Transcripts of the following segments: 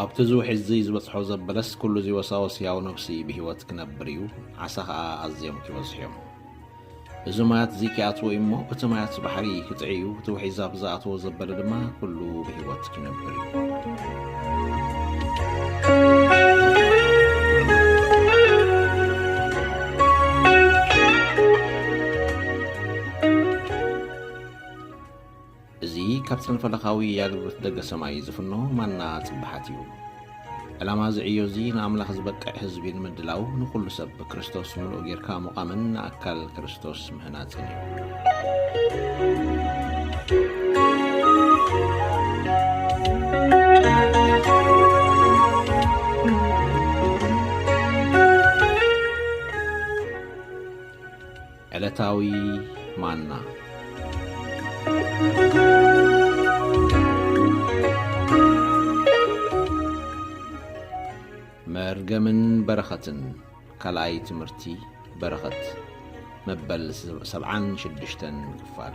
ኣብቲ እዚ ውሕጅ እዚ ዝበጽሖ ዘበለስ ኩሉ እዚ ወሳወስ ህያው ነብሲ ብህይወት ክነብር እዩ፣ ዓሳ ኸኣ ኣዝዮም ኪበዝሑ እዮም። እዚ ማያት እዚ ኪኣትዎ እዩ እሞ፣ እቲ ማያት ባሕሪ ኪጥዒ እዩ፣ እቲ ውሒዝ ኣብ ዝኣተዎ ዘበለ ድማ ኩሉ ብህይወት ኪነብር እዩ። እዚ ካብ ሰነፈለካዊ ኣገልግሎት ደገ ሰማይ ዝፍኖ ማና ጽባሓት እዩ። ዕላማ እዚ ዕዮ እዚ ንኣምላኽ ዝበቅዕ ህዝቢ ንምድላው ንኹሉ ሰብ ብክርስቶስ ምሉእ ጌርካ ምቛምን ንኣካል ክርስቶስ ምህናጽን እዩ። ዕለታዊ ማና። መርገምን በረኸትን ካልኣይ ትምህርቲ በረኸት መበል ሰብዓን ሽዱሽተን ክፋል።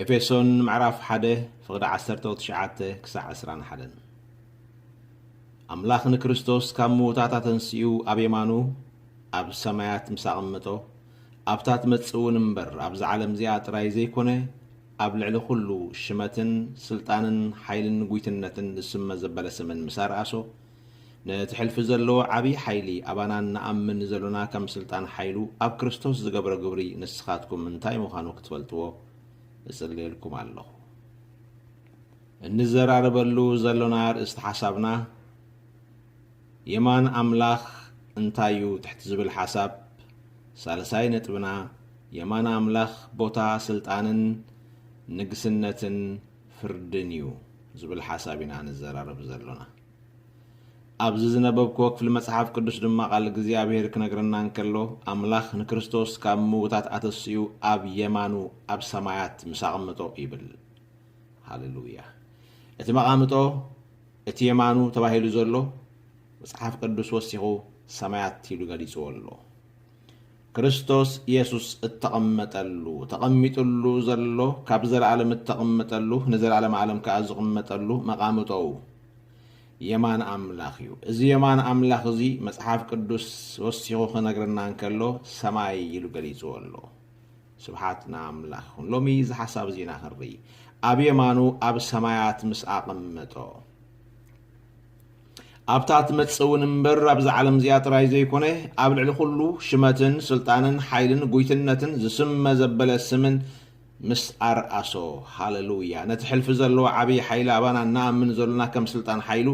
ኤፌሶን ምዕራፍ ሓደ ፍቕዲ ዓሰርተ ትሽዓተ ክሳዕ ዕስራን ሓደን ኣምላኽ ንክርስቶስ ካብ ምዉታት ኣተንስኡ ኣብ የማኑ ኣብ ሰማያት ምስ ኣቐምጦ ኣብታ ትመጽእ እውን እምበር ኣብዚ ዓለም እዚኣ ጥራይ ዘይኮነ ኣብ ልዕሊ ኩሉ ሽመትን ስልጣንን ሓይልን ጉይትነትን ዝስመ ዘበለ ስምን ምስ ኣርኣሶ፣ ነቲ ሕልፊ ዘለዎ ዓቢይ ሓይሊ ኣባና እንኣምን ዘሎና ከም ስልጣን ሓይሉ ኣብ ክርስቶስ ዝገብሮ ግብሪ ንስኻትኩም እንታይ ምዃኑ ክትፈልጥዎ እጽልየልኩም ኣለኹ። እንዘራረበሉ ዘሎና ኣርእስቲ ሓሳብና፣ የማን ኣምላኽ እንታይ እዩ ትሕቲ ዝብል ሓሳብ ሳልሳይ ነጥብና የማን ኣምላኽ ቦታ ስልጣንን ንግስነትን ፍርድን እዩ ዝብል ሓሳብ ኢና ንዘራረብ ዘሎና። ኣብዚ ዝነበብክዎ ክፍሊ መጽሓፍ ቅዱስ ድማ ቃል እግዚኣብሔር ክነግረና እንከሎ ኣምላኽ ንክርስቶስ ካብ ምውታት ኣተስኡ ኣብ የማኑ ኣብ ሰማያት ምስ ኣቐምጦ ይብል። ሃሌሉያ! እቲ መቓምጦ እቲ የማኑ ተባሂሉ ዘሎ መጽሓፍ ቅዱስ ወሲኹ ሰማያት ኢሉ ገሊጽዎ ኣሎ። ክርስቶስ የሱስ እተቐመጠሉ፣ ተቐሚጥሉ፣ ዘሎ ካብ ዘለኣለም እተቕመጠሉ ንዘለኣለም ኣለም ከኣ ዝቕመጠሉ መቓምጦኡ የማን ኣምላኽ እዩ። እዚ የማን ኣምላኽ እዚ መጽሓፍ ቅዱስ ወሲኹ ክነግረና እንከሎ ሰማይ ኢሉ ገሊጽዎ ኣሎ። ስብሓት ንኣምላኽ ይኹን ሎሚ እዚ ሓሳብ እዚ ኢና ክንርኢ ኣብ የማኑ ኣብ ሰማያት ምስ ኣቐመጦ ኣብታ ትመጽእ እውን እምበር ኣብዚ ዓለም እዚኣ ጥራይ ዘይኮነ ኣብ ልዕሊ ኩሉ ሽመትን ስልጣንን ሓይልን ጉይትነትን ዝስመ ዘበለ ስምን ምስ ኣርኣሶ ሃለሉያ ነቲ ሕልፊ ዘለዎ ዓብዪ ሓይሊ ኣባና እናኣምን ዘሎና ከም ስልጣን ሓይሉ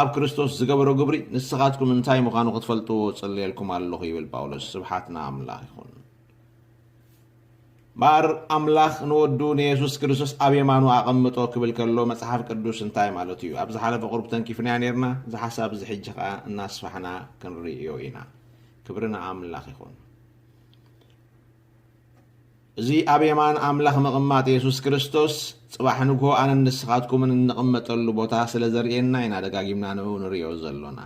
ኣብ ክርስቶስ ዝገበሮ ግብሪ ንስኻትኩም እንታይ ምዃኑ ክትፈልጥዎ ጽልየልኩም ኣለኹ ይብል ጳውሎስ ስብሓት ንኣምላኽ ይኹን እምበኣር ኣምላኽ ንወዱ ንየሱስ ክርስቶስ ኣብ የማኑ ኣቐምጦ ክብል ከሎ መጽሓፍ ቅዱስ እንታይ ማለቱ እዩ? ኣብ ዝሓለፈ ቁሩብ ተንኪፍናያ ኔርና፣ እዚ ሓሳብ እዚ ሕጂ ከኣ እናስፋሕና ክንርእዮ ኢና። ክብሪ ንኣምላኽ ይኹን። እዚ ኣብ የማን ኣምላኽ ምቕማጥ የሱስ ክርስቶስ ጽባሕ ንግሆ ኣነን ንስኻትኩምን እንቕመጠሉ ቦታ ስለ ዘርእየና ኢና ደጋጊምና ንኡ ንርእዮ ዘሎና።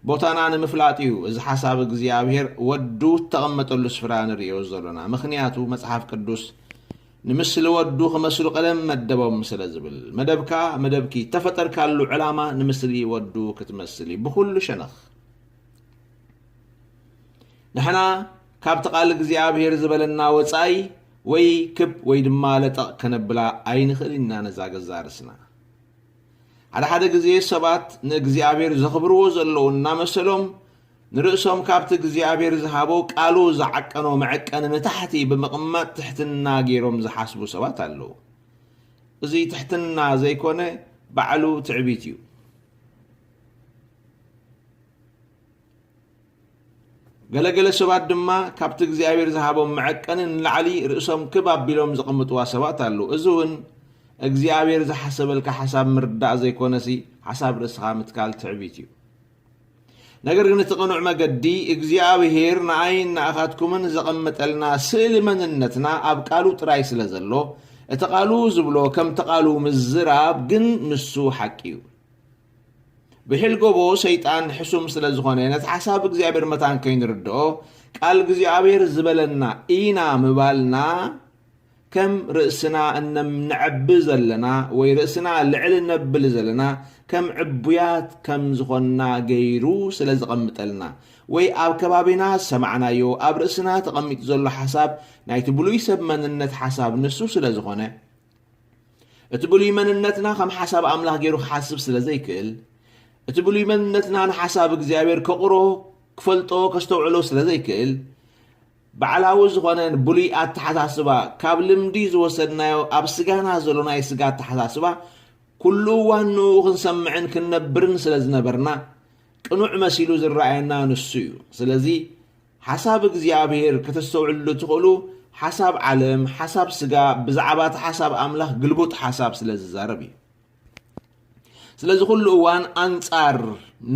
ቦታና ንምፍላጥ እዩ እዚ ሓሳብ እግዚኣብሔር ወዱ እተቐመጠሉ ስፍራ ንርእዮ ዘሎና። ምኽንያቱ መጽሓፍ ቅዱስ ንምስሊ ወዱ ክመስሉ ቀደም መደቦም ስለ ዝብል። መደብካ መደብኪ እተፈጠርካሉ ዕላማ ንምስሊ ወዱ ክትመስል እዩ ብኹሉ ሸነኽ። ንሕና ካብቲ ቃል እግዚኣብሔር ዝበለና ወጻኢ ወይ ክብ ወይ ድማ ለጠቕ ከነብላ ኣይንኽእልን ኢና ነዛ ገዛ ርስና። ሓደ ሓደ ግዜ ሰባት ንእግዚኣብሔር ዘኽብርዎ ዘለዉ እናመሰሎም ንርእሶም ካብቲ እግዚኣብሔር ዝሃቦ ቃሉ ዝዓቀኖ መዐቀኒ ንታሕቲ ብምቕማጥ ትሕትና ገይሮም ዝሓስቡ ሰባት ኣለዉ። እዚ ትሕትና ዘይኮነ ባዕሉ ትዕቢት እዩ። ገለ ገለ ሰባት ድማ ካብቲ እግዚኣብሔር ዝሃቦም መዐቀኒ ንላዕሊ ርእሶም ክብ ኣቢሎም ዘቐምጥዋ ሰባት ኣለዉ። እዚ እውን እግዚኣብሔር ዝሓሰበልካ ሓሳብ ምርዳእ ዘይኮነሲ ሓሳብ ርእስኻ ምትካል ትዕቢት እዩ። ነገር ግን እቲ ቅኑዕ መገዲ እግዚኣብሔር ንኣይን ንኣኻትኩምን ዘቐመጠልና ስእሊ መንነትና ኣብ ቃሉ ጥራይ ስለ ዘሎ እቲ ቃሉ ዝብሎ ከምቲ ቃሉ ምዝራብ ግን ንሱ ሓቂ እዩ። ብሒል ጎቦ ሰይጣን ሕሱም ስለ ዝኾነ ነቲ ሓሳብ እግዚኣብሔር መታን ከይንርድኦ ቃል እግዚኣብሔር ዝበለና ኢና ምባልና ከም ርእስና እነምነዐቢ ዘለና ወይ ርእስና ልዕል እነብል ዘለና ከም ዕቡያት ከም ዝኾንና ገይሩ ስለ ዝቐምጠልና ወይ ኣብ ከባቢና ዝሰማዕናዮ ኣብ ርእስና ተቐሚጡ ዘሎ ሓሳብ ናይቲ ብሉይ ሰብ መንነት ሓሳብ ንሱ ስለ ዝኾነ እቲ ብሉይ መንነትና ከም ሓሳብ ኣምላኽ ገይሩ ክሓስብ ስለ ዘይክእል፣ እቲ ብሉይ መንነትና ንሓሳብ እግዚኣብሔር ከቑሮ፣ ክፈልጦ፣ ከስተውዕሎ ስለ ዘይክእል፣ ባዕላዊ ዝኾነ ብሉይ ኣተሓሳስባ ካብ ልምዲ ዝወሰድናዮ ኣብ ስጋና ዘሎ ናይ ስጋ ኣተሓሳስባ ኩሉ እዋን ንኡ ክንሰምዕን ክንነብርን ስለ ዝነበርና ቅኑዕ መሲሉ ዝረኣየና ንሱ እዩ። ስለዚ ሓሳብ እግዚኣብሔር ከተስተውዕልሉ እትኽእሉ ሓሳብ ዓለም፣ ሓሳብ ስጋ፣ ብዛዕባ እቲ ሓሳብ ኣምላኽ ግልቡጥ ሓሳብ ስለ ዝዛረብ እዩ። ስለዚ ኩሉ እዋን ኣንጻር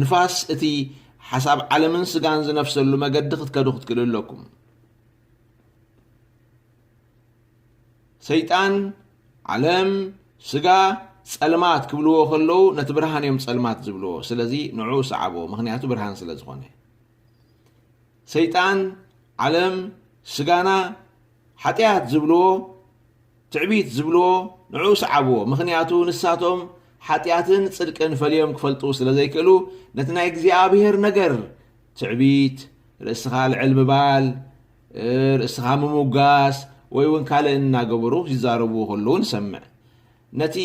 ንፋስ እቲ ሓሳብ ዓለምን ስጋን ዝነፍሰሉ መገዲ ክትከዱ ክትክእሉ ኣለኩም። ሰይጣን ዓለም ስጋ ጸልማት ክብልዎ ከለዉ ነቲ ብርሃን እዮም ጸልማት ዝብልዎ። ስለዚ ንዕኡ ሰዓቦ፣ ምክንያቱ ብርሃን ስለ ዝኾነ። ሰይጣን፣ ዓለም፣ ስጋና፣ ሓጢኣት ዝብልዎ፣ ትዕቢት ዝብልዎ ንዕኡ ሰዓብዎ። ምኽንያቱ ንሳቶም ሓጢኣትን ጽድቅን ፈልዮም ክፈልጡ ስለ ዘይክእሉ ነቲ ናይ እግዚኣብሔር ነገር ትዕቢት፣ ርእስኻ ልዕል ምባል፣ ርእስኻ ምሙጋስ ወይ እውን ካልእ እናገበሩ ይዛረብዎ ከለዉ ንሰምዕ። ነቲ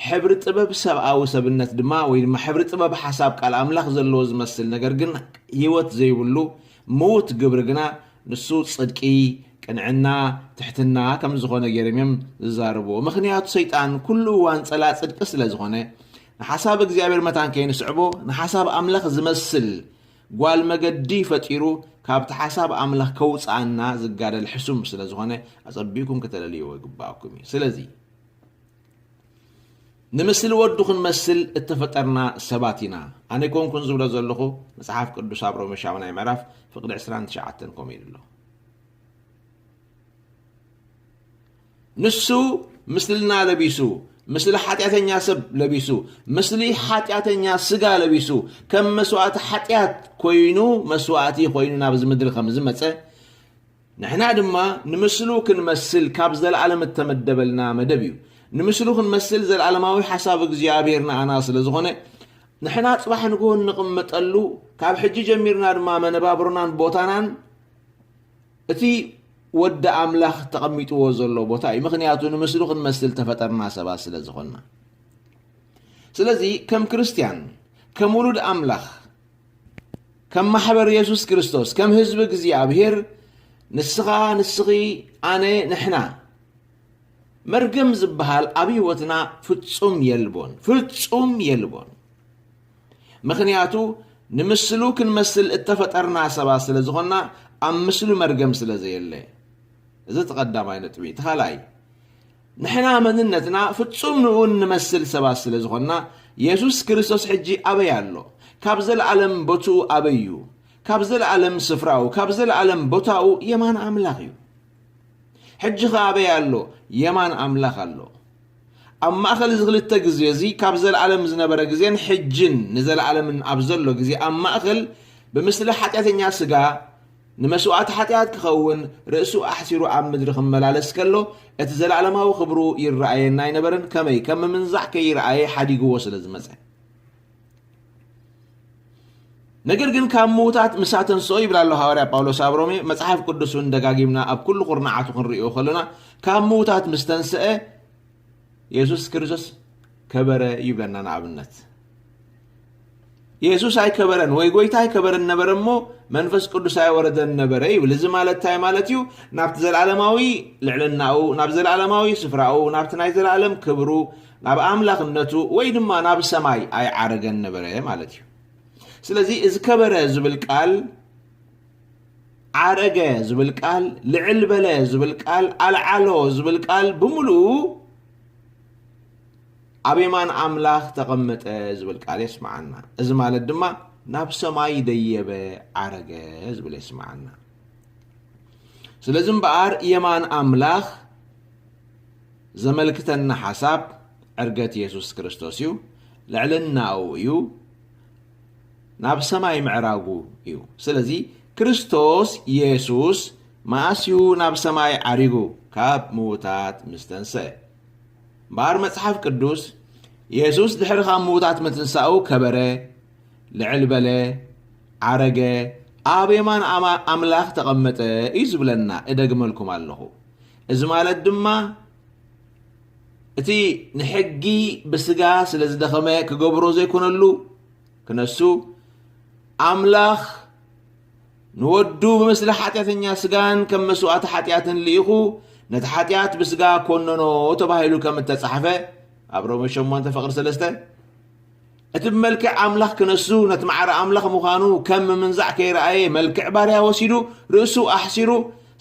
ሕብሪ ጥበብ ሰብኣዊ ሰብነት ድማ ወይ ድማ ሕብሪ ጥበብ ሓሳብ ቃል ኣምላኽ ዘለዎ ዝመስል ነገር ግን ህይወት ዘይብሉ ምዉት ግብሪ ግና ንሱ ጽድቂ፣ ቅንዕና፣ ትሕትና ከም ዝኾነ ገይሮም እዮም ዝዛረብዎ። ምኽንያቱ ሰይጣን ኩሉ እዋን ጸላእ ጽድቂ ስለ ዝኾነ ንሓሳብ እግዚኣብሔር መታን ከይንስዕቦ ንሓሳብ ኣምላኽ ዝመስል ጓል መገዲ ፈጢሩ ካብቲ ሓሳብ ኣምላኽ ከውጽኣና ዝጋደል ሕሱም ስለ ዝኾነ ኣጸቢቕኩም ከተለልይዎ ይግብኣኩም እዩ። ስለዚ ንምስሊ ወዱ ክንመስል እተፈጠርና ሰባት ኢና። ኣነ ኣይኮንኩን ዝብሎ ዘለኹ መጽሓፍ ቅዱስ ኣብ ሮሜ ሻሙናይ ምዕራፍ ፍቕዲ ዕስራን ትሽዓተን ከምኡ ኢሉ ኣሎ። ንሱ ምስልና ለቢሱ ምስሊ ሓጢኣተኛ ሰብ ለቢሱ ምስሊ ሓጢኣተኛ ስጋ ለቢሱ ከም መስዋእቲ ሓጢኣት ኮይኑ መስዋእቲ ኮይኑ ናብዚ ምድሪ ከም ዝመፀ ንሕና ድማ ንምስሉ ክንመስል ካብ ዘለኣለም እተመደበልና መደብ እዩ ንምስሉ ክንመስል ዘለኣለማዊ ሓሳብ እግዚኣብሔር ንኣና ስለ ዝኾነ ንሕና ፅባሕ ንግሆ እንቕመጠሉ ካብ ሕጂ ጀሚርና ድማ መነባብሮናን ቦታናን እቲ ወዲ ኣምላኽ ተቐሚጥዎ ዘሎ ቦታ እዩ። ምኽንያቱ ንምስሉ ክንመስል ተፈጠርና ሰባት ስለ ዝኾንና። ስለዚ ከም ክርስትያን፣ ከም ውሉድ ኣምላኽ፣ ከም ማሕበር የሱስ ክርስቶስ፣ ከም ህዝቢ እግዚኣብሄር ንስኻ፣ ንስኺ፣ ኣነ፣ ንሕና መርገም ዝበሃል ኣብ ህይወትና ፍጹም የልቦን፣ ፍጹም የልቦን። ምኽንያቱ ንምስሉ ክንመስል እተፈጠርና ሰባት ስለ ዝኾንና ኣብ ምስሉ መርገም ስለ ዘየለ እዚ እቲ ቀዳማይ ነጥቢ እቲ ካልኣይ ንሕና መንነትና ፍጹም ንኡ እንመስል ሰባት ስለ ዝኾንና የሱስ ክርስቶስ ሕጂ ኣበይ ኣሎ ካብ ዘለኣለም ቦትኡ ኣበይ እዩ ካብ ዘለኣለም ስፍራኡ ካብ ዘለኣለም ቦታኡ የማን ኣምላኽ እዩ ሕጂ ኸ ኣበይ ኣሎ የማን ኣምላኽ ኣሎ ኣብ ማእከል እዚ ክልተ ግዜ እዚ ካብ ዘለኣለም ዝነበረ ግዜን ሕጅን ንዘለኣለምን ኣብ ዘሎ ግዜ ኣብ ማእከል ብምስሊ ሓጢኣተኛ ስጋ ንመስዋእቲ ሓጢኣት ክኸውን ርእሱ ኣሕሲሩ ኣብ ምድሪ ክመላለስ ከሎ እቲ ዘለኣለማዊ ክብሩ ይረኣየና ኣይነበረን ከመይ ከም ምምንዛዕ ከይረኣየ ሓዲግዎ ስለ ዝመጸ ነገር ግን ካብ ምዉታት ምስ ኣተንስኦ ይብል ኣሎ ሃዋርያ ጳውሎስ ኣብ ሮሜ መጽሓፍ ቅዱስ እውን ደጋጊምና ኣብ ኩሉ ኩርናዓቱ ክንሪኦ ከሎና ካብ ምዉታት ምስ ተንስአ የሱስ ክርስቶስ ከበረ ይብለና ንኣብነት የሱስ ኣይከበረን ወይ ጎይታ ኣይከበረን ነበረ እሞ መንፈስ ቅዱስ ኣይወረደን ነበረ ይብል እዚ ማለት እንታይ ማለት እዩ ናብቲ ዘለዓለማዊ ልዕልናኡ ናብ ዘለዓለማዊ ስፍራኡ ናብቲ ናይ ዘለዓለም ክብሩ ናብ ኣምላኽነቱ ወይ ድማ ናብ ሰማይ ኣይዓረገን ነበረ ማለት እዩ። ስለዚ እዚ ከበረ ዝብል ቃል ዓረገ ዝብል ቃል ልዕል በለ ዝብል ቃል ኣልዓሎ ዝብል ቃል ብምሉኡ ኣብ የማን ኣምላኽ ተቐመጠ ዝብል ቃል የስምዓና እዚ ማለት ድማ ናብ ሰማይ ደየበ ዓረገ ዝብል የስምዓና ስለዚ እምበኣር የማን ኣምላኽ ዘመልክተና ሓሳብ ዕርገት የሱስ ክርስቶስ እዩ፣ ልዕልናኡ እዩ፣ ናብ ሰማይ ምዕራጉ እዩ። ስለዚ ክርስቶስ የሱስ መኣስ እዩ ናብ ሰማይ ዓሪጉ? ካብ ምዉታት ምስ ተንስአ። እምበኣር መጽሓፍ ቅዱስ የሱስ ድሕሪ ካብ ምዉታት ምትንሳኡ ከበረ፣ ልዕል በለ፣ ዓረገ፣ ኣብ የማን ኣምላኽ ተቐመጠ እዩ ዝብለና። እደግመልኩም ኣለኹ። እዚ ማለት ድማ እቲ ንሕጊ ብስጋ ስለ ዝደኸመ ክገብሮ ዘይኮነሉ ክነሱ ኣምላኽ ንወዱ ብምስሊ ሓጢኣተኛ ስጋን ከም መስዋእቲ ሓጢኣትን ልኢኹ ነቲ ሓጢኣት ብስጋ ኮነኖ ተባሂሉ ከም እተጻሕፈ ኣብ ሮሜ 8 ፍቕሪ 3 እቲ ብመልክዕ ኣምላኽ ክነሱ፣ ነቲ ማዕረ ኣምላኽ ምዃኑ ከም ምምንዛዕ ከይረኣየ መልክዕ ባርያ ወሲዱ፣ ርእሱ ኣሕሲሩ፣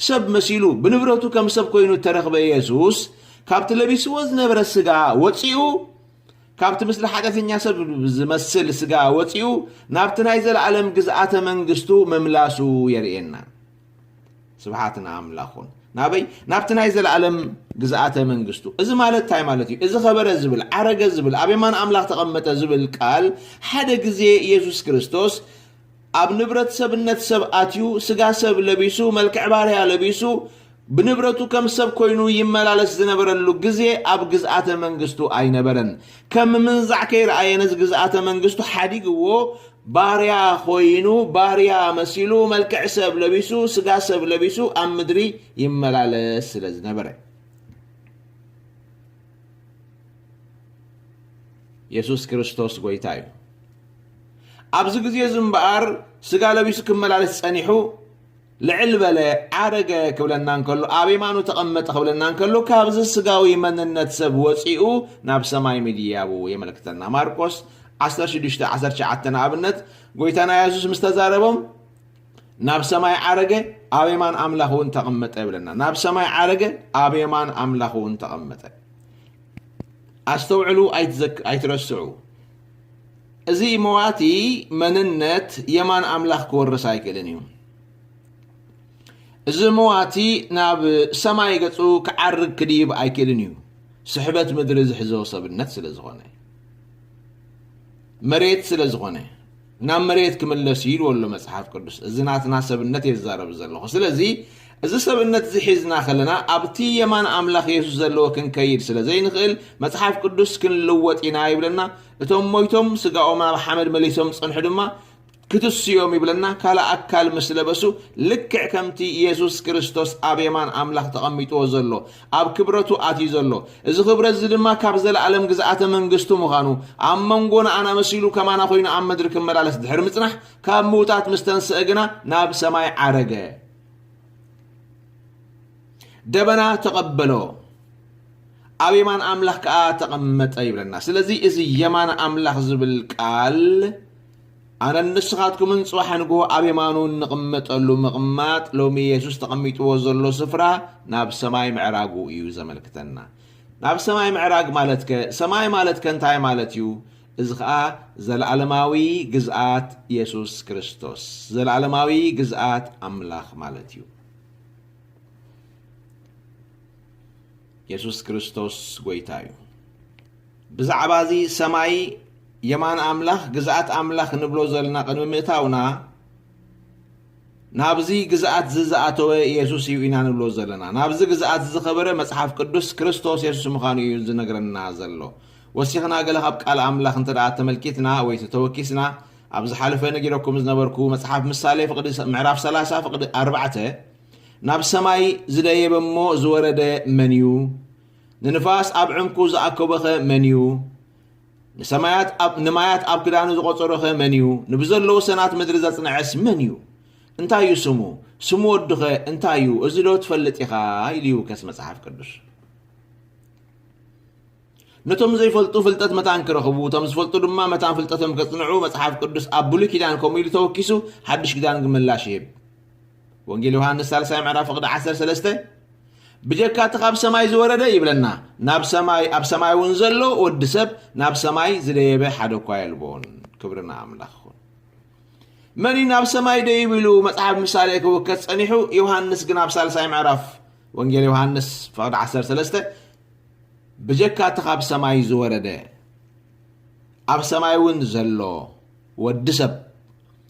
ሰብ መሲሉ፣ ብንብረቱ ከም ሰብ ኮይኑ እተረኽበ የሱስ፣ ካብቲ ለቢስዎ ዝነበረ ስጋ ወጺኡ፣ ካብቲ ምስሊ ሓጢኣተኛ ሰብ ዝመስል ስጋ ወጺኡ፣ ናብቲ ናይ ዘለኣለም ግዝኣተ መንግስቱ ምምላሱ የርእየና። ስብሓት ንኣምላኽ ኹን ናበይ ናብቲ ናይ ዘለኣለም ግዝኣተ መንግስቱ እዚ ማለት እንታይ ማለት እዩ እዚ ኸበረ ዝብል ዓረገ ዝብል ኣብ የማን ኣምላኽ ተቐመጠ ዝብል ቃል ሓደ ግዜ ኢየሱስ ክርስቶስ ኣብ ንብረት ሰብነት ሰብ ኣትዩ ስጋ ሰብ ለቢሱ መልክዕ ባርያ ለቢሱ ብንብረቱ ከም ሰብ ኮይኑ ይመላለስ ዝነበረሉ ግዜ ኣብ ግዝኣተ መንግስቱ ኣይነበረን ከም ምንዛዕ ከይረኣየ ነዚ ግዝኣተ መንግስቱ ሓዲግዎ ባርያ ኾይኑ ባርያ መሲሉ መልክዕ ሰብ ለቢሱ ስጋ ሰብ ለቢሱ ኣብ ምድሪ ይመላለስ ስለ ዝነበረ የሱስ ክርስቶስ ጎይታ እዩ ኣብዚ ግዜ እዚ እምበኣር ስጋ ለቢሱ ክመላለስ ጸኒሑ ልዕል በለ፣ ዓረገ፣ ክብለና እንከሎ፣ ኣብ የማኑ ተቐመጠ ክብለና እንከሎ፣ ካብዚ ስጋዊ መንነት ሰብ ወጺኡ ናብ ሰማይ ምድያቡ የመልክተና። ማርቆስ ዓሰርተ ሽዱሽተ ዓሰርተ ትሽዓተ ንኣብነት ጎይታና የሱስ ምስ ተዛረቦም ናብ ሰማይ ዓረገ ኣብ የማን ኣምላኽ እውን ተቐመጠ ይብለና። ናብ ሰማይ ዓረገ ኣብ የማን ኣምላኽ እውን ተቐመጠ። ኣስተውዕሉ፣ ኣይትዘክ- ኣይትረስዑ። እዚ መዋቲ መንነት የማን ኣምላኽ ክወርስ ኣይክእልን እዩ። እዚ መዋቲ ናብ ሰማይ ገጹ ክዓርግ ክድይብ ኣይክእልን እዩ ስሕበት ምድሪ ዝሕዞ ሰብነት ስለ ዝኾነ መሬት ስለ ዝኾነ ናብ መሬት ክምለስ ይልዎ ኣሎ መጽሓፍ ቅዱስ እዚ ናትና ሰብነት እየ ዝዛረብ ዘለኹ ስለዚ እዚ ሰብነት'ዚ ሒዝና ከለና ኣብ'ቲ የማን ኣምላኽ የሱስ ዘለዎ ክንከይድ ስለ ዘይንኽእል፣ መጽሓፍ ቅዱስ ክንልወጥ ኢና ይብለና። እቶም ሞይቶም ስጋኦም ናብ ሓመድ መሊሶም ዝጸንሑ ድማ ክትስ'ዮም ይብለና፣ ካልእ ኣካል ምስ ለበሱ፣ ልክዕ ከም'ቲ የሱስ ክርስቶስ ኣብ የማን ኣምላኽ ተቐሚጥዎ ዘሎ፣ ኣብ ክብረቱ ኣትዩ ዘሎ። እዚ ክብረት'ዚ ድማ ካብ ዘለኣለም ግዝኣተ መንግስቱ ምዃኑ፣ ኣብ መንጎ ንኣና መሲሉ ከማና ኮይኑ ኣብ ምድሪ ክመላለስ ድሕሪ ምጽናሕ፣ ካብ ምዉታት ምስ ተንስአ ግና ናብ ሰማይ ዓረገ። ደበና ተቐበሎ ኣብ የማን ኣምላኽ ከዓ ተቐመጠ ይብለና ስለዚ እዚ የማን ኣምላኽ ዝብል ቃል ኣነ ንስኻትኩምን ፅባሕ ንግሆ ኣብ የማኑ እንቕመጠሉ ምቕማጥ ሎሚ የሱስ ተቐሚጥዎ ዘሎ ስፍራ ናብ ሰማይ ምዕራጉ እዩ ዘመልክተና ናብ ሰማይ ምዕራግ ማለት ከ ሰማይ ማለት ከ እንታይ ማለት እዩ እዚ ኸኣ ዘለኣለማዊ ግዝኣት የሱስ ክርስቶስ፣ ዘለኣለማዊ ግዝኣት ኣምላኽ ማለት እዩ። የሱስ ክርስቶስ ጐይታ እዩ። ብዛዕባ እዚ ሰማይ የማን ኣምላኽ፣ ግዝኣት ኣምላኽ እንብሎ ዘልና ቅድሚ ምእታውና፣ ናብዚ ግዝኣትዚ ዝኣተወ የሱስ እዩ ኢና ንብሎ ዘለና። ናብዚ ግዝኣትዚ ዝኸበረ መጽሓፍ ቅዱስ ክርስቶስ የሱስ ምኻኑ እዩ ዝነግረና ዘሎ። ወሲኽና ገለ ካብ ቃል ኣምላኽ እንተ ደኣ ተመልኪትና ወይ ተተወኪስና ኣብ ዝሓለፈ ነጊረኩም ዝነበርኩ መጽሓፍ ምሳሌ ፍቅዲ ምዕራፍ ሰላሳ ፍቅዲ ኣርባዕተ ናብ ሰማይ ዝደየበ እሞ ዝወረደ መን እዩ? ንንፋስ ኣብ ዕንኩ ዝኣከቦኸ መን እዩ? ንሰማያት ኣብ ንማያት ኣብ ክዳኑ ዝቖጸሮኸ መን እዩ? ንብዘለዉ ሰናት ምድሪ ዘጽንዐስ መን እዩ? እንታይ እዩ ስሙ? ስሙ ወዱኸ እንታይ እዩ? እዚ ዶ ትፈልጥ ኢኻ? ኢሉ ይውከስ መጽሓፍ ቅዱስ። ነቶም ዘይፈልጡ ፍልጠት መታን ክረኽቡ እቶም ዝፈልጡ ድማ መታን ፍልጠቶም ከጽንዑ መጽሓፍ ቅዱስ ኣብ ብሉይ ኪዳን ከምኡ ኢሉ ተወኪሱ ሓድሽ ኪዳን ግን ምላሽ ይህብ። ወንጌል ዮሃንስ ሳልሳይ ምዕራፍ ፍቕዲ ዓሰርተ ሰለስተ ብጀካ እቲ ካብ ሰማይ ዝወረደ ይብለና ናብ ሰማይ ኣብ ሰማይ እውን ዘሎ ወዲ ሰብ ናብ ሰማይ ዝደየበ ሓደ እኳ የልቦን ክብርና ኣምላኽ ይኹን መን እዩ ናብ ሰማይ ደይብ ኢሉ መፅሓፍ ምሳሌ ክውከት ፀኒሑ ዮሃንስ ግን ኣብ ሳልሳይ ምዕራፍ ወንጌል ዮሃንስ ፍቕዲ ዓሰርተ ሰለስተ ብጀካ እቲ ካብ ሰማይ ዝወረደ ኣብ ሰማይ እውን ዘሎ ወዲ ሰብ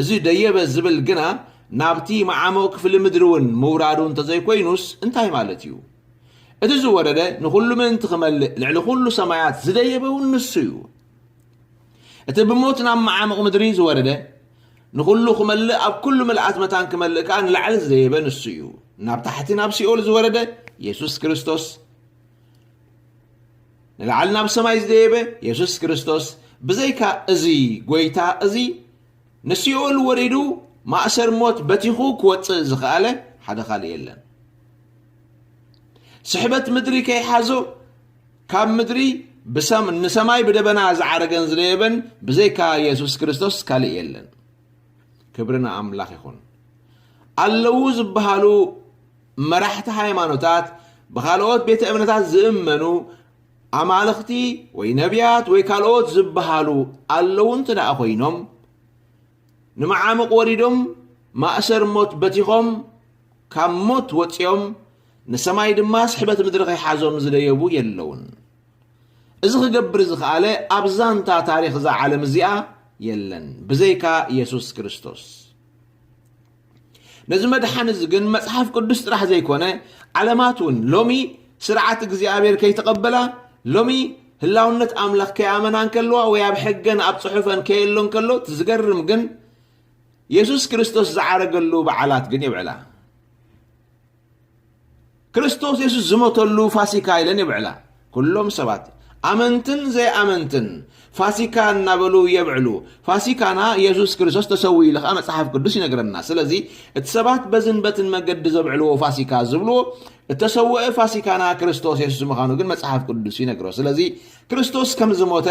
እዚ ደየበ ዝብል ግና ናብቲ መዓሙቕ ክፍሊ ምድሪ እውን ምውራዱ እንተዘይኮይኑስ እንታይ ማለት እዩ? እቲ ዝወረደ ንኹሉ ምእንቲ ክመልእ ልዕሊ ኩሉ ሰማያት ዝደየበ እውን ንሱ እዩ። እቲ ብሞት ናብ መዓሙቕ ምድሪ ዝወረደ ንኹሉ ክመልእ ኣብ ኩሉ ምልኣት መታን ክመልእ ከኣ ንላዕሊ ዝደየበ ንሱ እዩ። ናብ ታሕቲ ናብ ሲኦል ዝወረደ የሱስ ክርስቶስ ንላዕሊ ናብ ሰማይ ዝደየበ የሱስ ክርስቶስ ብዘይካ እዚ ጐይታ እዚ ንሲኦል ወሪዱ ማእሰር ሞት በቲኹ ክወጽእ ዝኸኣለ ሓደ ካልእ የለን። ስሕበት ምድሪ ከይሓዞ ካብ ምድሪ ንሰማይ ብደበና ዝዓረገን ዝደየበን ብዘይካ የሱስ ክርስቶስ ካልእ የለን። ክብሪ ንኣምላኽ ይኹን። ኣለዉ ዝበሃሉ መራሕቲ ሃይማኖታት ብኻልኦት ቤተ እምነታት ዝእመኑ ኣማልኽቲ ወይ ነቢያት ወይ ካልኦት ዝበሃሉ ኣለዉ እንተ ደኣ ኮይኖም ንመዓሙቕ ወሪዶም ማእሰር ሞት በቲኾም ካብ ሞት ወፂኦም ንሰማይ ድማ ስሕበት ምድሪ ከይሓዞም ዝደየቡ የለውን እዚ ክገብር ዝኸኣለ ኣብ ዛንታ ታሪኽ እዛ ዓለም እዚኣ የለን ብዘይካ የሱስ ክርስቶስ ነዚ መድሓኒ እዚ ግን መጽሓፍ ቅዱስ ጥራሕ ዘይኮነ ዓለማት እውን ሎሚ ስርዓት እግዚኣብሔር ከይተቐበላ ሎሚ ህላውነት ኣምላኽ ከይኣመና እንከለዋ ወይ ኣብ ሕገን ኣብ ጽሑፈን ከየሎ እንከሎ እቲ ዝገርም ግን የሱስ ክርስቶስ ዝዓረገሉ በዓላት ግን የብዕላ ክርስቶስ የሱስ ዝሞተሉ ፋሲካ ኢለን የብዕላ። ኩሎም ሰባት ኣመንትን ዘይኣመንትን ፋሲካ እናበሉ የብዕሉ። ፋሲካና የሱስ ክርስቶስ ተሰዊኡ ኢሉ ከዓ መጽሓፍ ቅዱስ ይነግረና። ስለዚ እቲ ሰባት በዝን በትን መገዲ ዘብዕልዎ ፋሲካ ዝብልዎ እተሰወአ ፋሲካና ክርስቶስ የሱስ ምዃኑ ግን መጽሓፍ ቅዱስ ይነግሮ። ስለዚ ክርስቶስ ከም ዝሞተ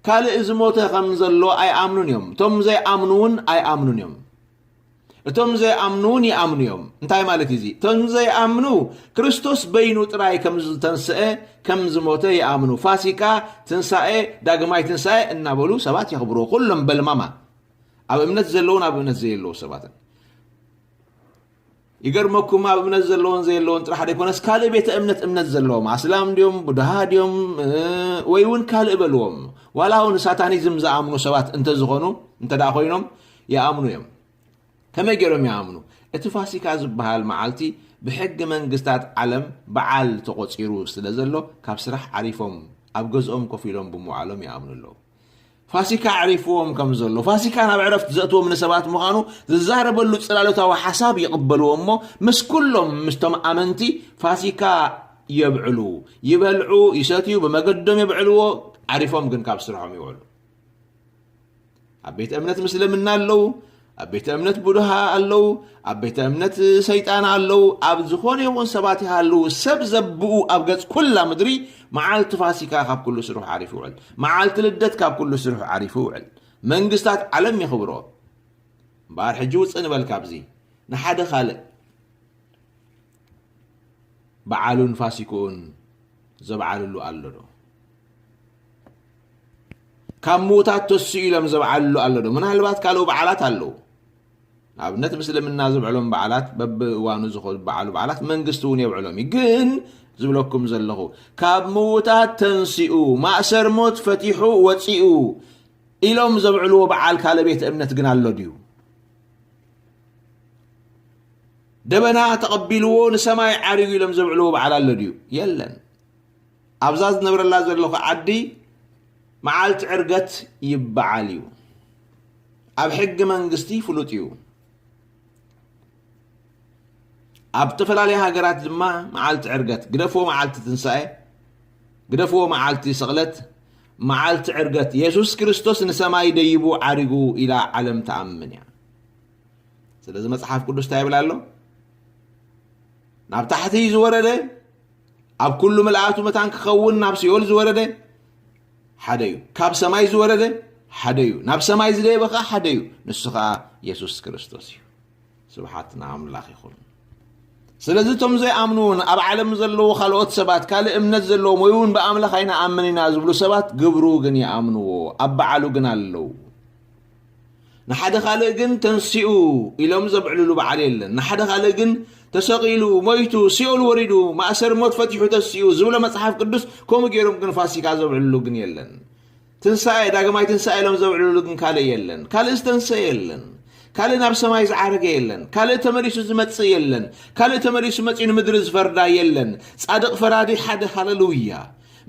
ካልእ ዝሞተ ከም ዘሎ ኣይኣምኑን እዮም። እቶም ዘይኣምኑ እውን ኣይኣምኑን እዮም። እቶም ዘይኣምኑውን ይኣምኑ እዮም። እንታይ ማለት እዩ እዚ? እቶም ዘይኣምኑ ክርስቶስ በይኑ ጥራይ ከም ዝተንስኤ፣ ከም ዝሞተ ይኣምኑ። ፋሲካ፣ ትንሳኤ፣ ዳግማይ ትንሳኤ እናበሉ ሰባት የኽብርዎ። ኩሎም በልማማ ኣብ እምነት ዘለውን ኣብ እምነት ዘየለዉ ሰባትን ይገርመኩም ኣብ እምነት ዘለዎን ዘየለዎን ጥራሕ ደይኮነስ ካልእ ቤተ እምነት እምነት ዘለዎም ኣስላም ድዮም ቡድሃ ድዮም ወይ እውን ካልእ በልዎም ዋላ እውን ሳታኒዝም ዝኣምኑ ሰባት እንተዝኾኑ እንተ ኮይኖም ይኣምኑ እዮም። ከመይ ገይሮም ይኣምኑ? እቲ ፋሲካ ዝበሃል መዓልቲ ብሕጊ መንግስታት ዓለም በዓል ተቖጺሩ ስለ ዘሎ ካብ ስራሕ ዓሪፎም ኣብ ገዝኦም ኮፍ ኢሎም ብምውዓሎም ይኣምኑ ኣለዉ። ፋሲካ ኣዕሪፍዎም ከም ዘሎ ፋሲካ ናብ ዕረፍቲ ዘእትዎም ንሰባት ምዃኑ ዝዛረበሉ ጽላሎታዊ ሓሳብ ይቕበልዎ እሞ ምስ ኩሎም ምስቶም ኣመንቲ ፋሲካ የብዕሉ፣ ይበልዑ፣ ይሰትዩ፣ ብመገዶም የብዕልዎ፣ ዓሪፎም ግን ካብ ስርሖም ይውዕሉ። ኣብ ቤተ እምነት ምስልምና ኣለዉ ኣብ ቤተ እምነት ቡድሃ ኣለዉ ኣብ ቤተ እምነት ሰይጣን ኣለዉ ኣብ ዝኾነ ይኹን ሰባት ይሃለዉ ሰብ ዘብኡ ኣብ ገጽ ኩላ ምድሪ መዓልቲ ፋሲካ ካብ ኩሉ ስርሑ ዓሪፉ ይውዕል መዓልቲ ልደት ካብ ኩሉ ስርሑ ዓሪፉ ይውዕል መንግስታት ዓለም የኽብሮ እምበኣር ሕጂ ውፅእ ንበል ካብዚ ንሓደ ካልእ በዓሉን ፋሲክኡን ዘብዓልሉ ኣሎ ዶ ካብ ምዉታት ተስኡ ኢሎም ዘብዓልሉ ኣሎ ዶ? ምናልባት ካልኡ በዓላት ኣለዉ። ንኣብነት ምስልምና ዝብዕሎም በዓላት በብእዋኑ ዝበዓሉ በዓላት መንግስቲ እውን የብዕሎም እዩ። ግን ዝብለኩም ዘለኹ ካብ ምዉታት ተንስኡ ማእሰር ሞት ፈቲሑ ወፂኡ ኢሎም ዘብዕልዎ በዓል ካለ ቤተ እምነት ግን ኣሎ ድዩ? ደበና ተቐቢልዎ ንሰማይ ዓሪጉ ኢሎም ዘብዕልዎ በዓል ኣሎ ድዩ? የለን። ኣብዛ ዝነብረላ ዘለኹ ዓዲ መዓልቲ ዕርገት ይበዓል እዩ። ኣብ ሕጊ መንግስቲ ፍሉጥ እዩ። ኣብ ዝተፈላለዩ ሃገራት ድማ መዓልቲ ዕርገት ግደፍዎ መዓልቲ ትንሳኤ ግደፍዎ መዓልቲ ስቕለት መዓልቲ ዕርገት የሱስ ክርስቶስ ንሰማይ ደይቡ ዓሪጉ ኢላ ዓለም ትኣምን እያ። ስለዚ መጽሓፍ ቅዱስ እንታይ ይብል ኣሎ ናብ ታሕቲ ዝወረደ ኣብ ኩሉ ምልኣቱ መታን ክኸውን ናብ ሲኦል ዝወረደ ሓደ እዩ ካብ ሰማይ ዝወረደ ሓደ እዩ ናብ ሰማይ ዝደየበ ከዓ ሓደ እዩ ንሱ ከዓ የሱስ ክርስቶስ እዩ ስብሓት ንኣምላኽ ይኹን ስለዚ እቶም ዘይኣምኑውን ኣብ ዓለም ዘለዉ ካልኦት ሰባት ካልእ እምነት ዘለዎም ወይ እውን ብኣምላኽ ኣይንኣምን ኢና ዝብሉ ሰባት ግብሩ ግን ይኣምንዎ ኣብ በዓሉ ግን ኣለዉ ንሓደ ካልእ ግን ተንሲኡ ኢሎም ዘብዕልሉ በዓል የለን። ንሓደ ካልእ ግን ተሰቒሉ፣ ሞይቱ፣ ሲኦል ወሪዱ፣ ማእሰሪ ሞት ፈቲሑ ተሲኡ ዝብሎ መጽሓፍ ቅዱስ ከምኡ ገይሮም ግን ፋሲካ ዘብዕልሉ ግን የለን። ትንሳኤ ዳግማይ ትንሳኤ ኢሎም ዘብዕልሉ ግን ካልእ የለን። ካልእ ዝተንሰ የለን። ካልእ ናብ ሰማይ ዝዓረገ የለን። ካልእ ተመሊሱ ዝመጽእ የለን። ካልእ ተመሊሱ መጺኡ ንምድሪ ዝፈርዳ የለን። ጻድቕ ፈራዲ ሓደ ሃለሉያ።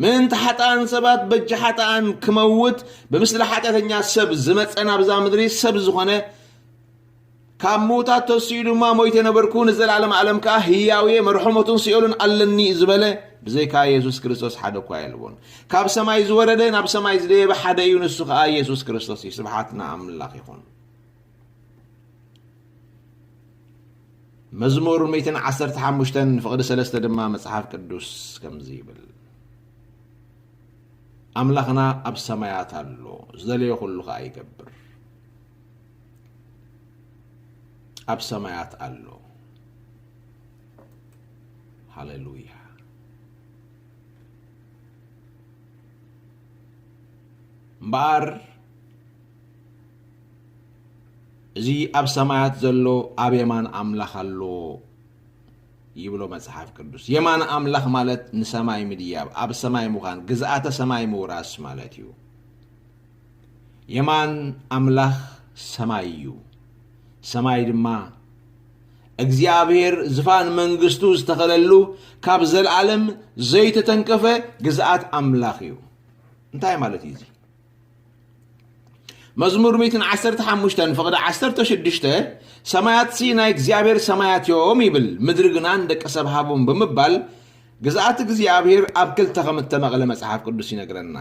ምእንቲ ሓጥኣን ሰባት በጃ ሓጥኣን ክመውት ብምስሊ ሓጢኣተኛ ሰብ ዝመፀ ናብዛ ምድሪ ሰብ ዝኾነ ካብ ምውታት ተስኡ ድማ ሞይተ ነበርኩ ንዘለኣለም ኣለም ከዓ ህያውየ መርሖሞትን ሲኦልን ኣለኒ ዝበለ ብዘይካ የሱስ ክርስቶስ ሓደ እኳ የልቦን ካብ ሰማይ ዝወረደ ናብ ሰማይ ዝደየበ ሓደ እዩ ንሱ ከዓ የሱስ ክርስቶስ እዩ ስብሓት ንኣምላኽ ይኹን መዝሙር ሚእትን ዓሰርተ ሓሙሽተን ፍቕዲ ሰለስተ ድማ መጽሓፍ ቅዱስ ከምዚ ይብል ኣምላኽና ኣብ ሰማያት ኣሎ ዝደለዮ ኩሉ ከዓ ይገብር ኣብ ሰማያት ኣሎ ሃሌሉያ እምበኣር እዚ ኣብ ሰማያት ዘሎ ኣብ የማን ኣምላኽ ኣሎ ይብሎ መጽሓፍ ቅዱስ። የማን ኣምላኽ ማለት ንሰማይ ምድያብ፣ ኣብ ሰማይ ምዃን፣ ግዝኣተ ሰማይ ምውራስ ማለት እዩ። የማን ኣምላኽ ሰማይ እዩ። ሰማይ ድማ እግዚኣብሔር ዝፋን መንግስቱ ዝተኸለሉ ካብ ዘለዓለም ዘይተተንከፈ ግዝኣት ኣምላኽ እዩ እንታይ ማለት እዩ እዚ መዝሙር ሚእትን ዓሰርተ ሓሙሽተን ፍቕዲ ዓሰርተ ሽዱሽተ ሰማያትሲ ናይ እግዚኣብሔር ሰማያት እዮም ይብል ምድሪ ግና ንደቂ ሰብ ሃቦም ብምባል ግዝኣት እግዚኣብሔር ኣብ ክልተ ከም እተመቕለ መጽሓፍ ቅዱስ ይነግረና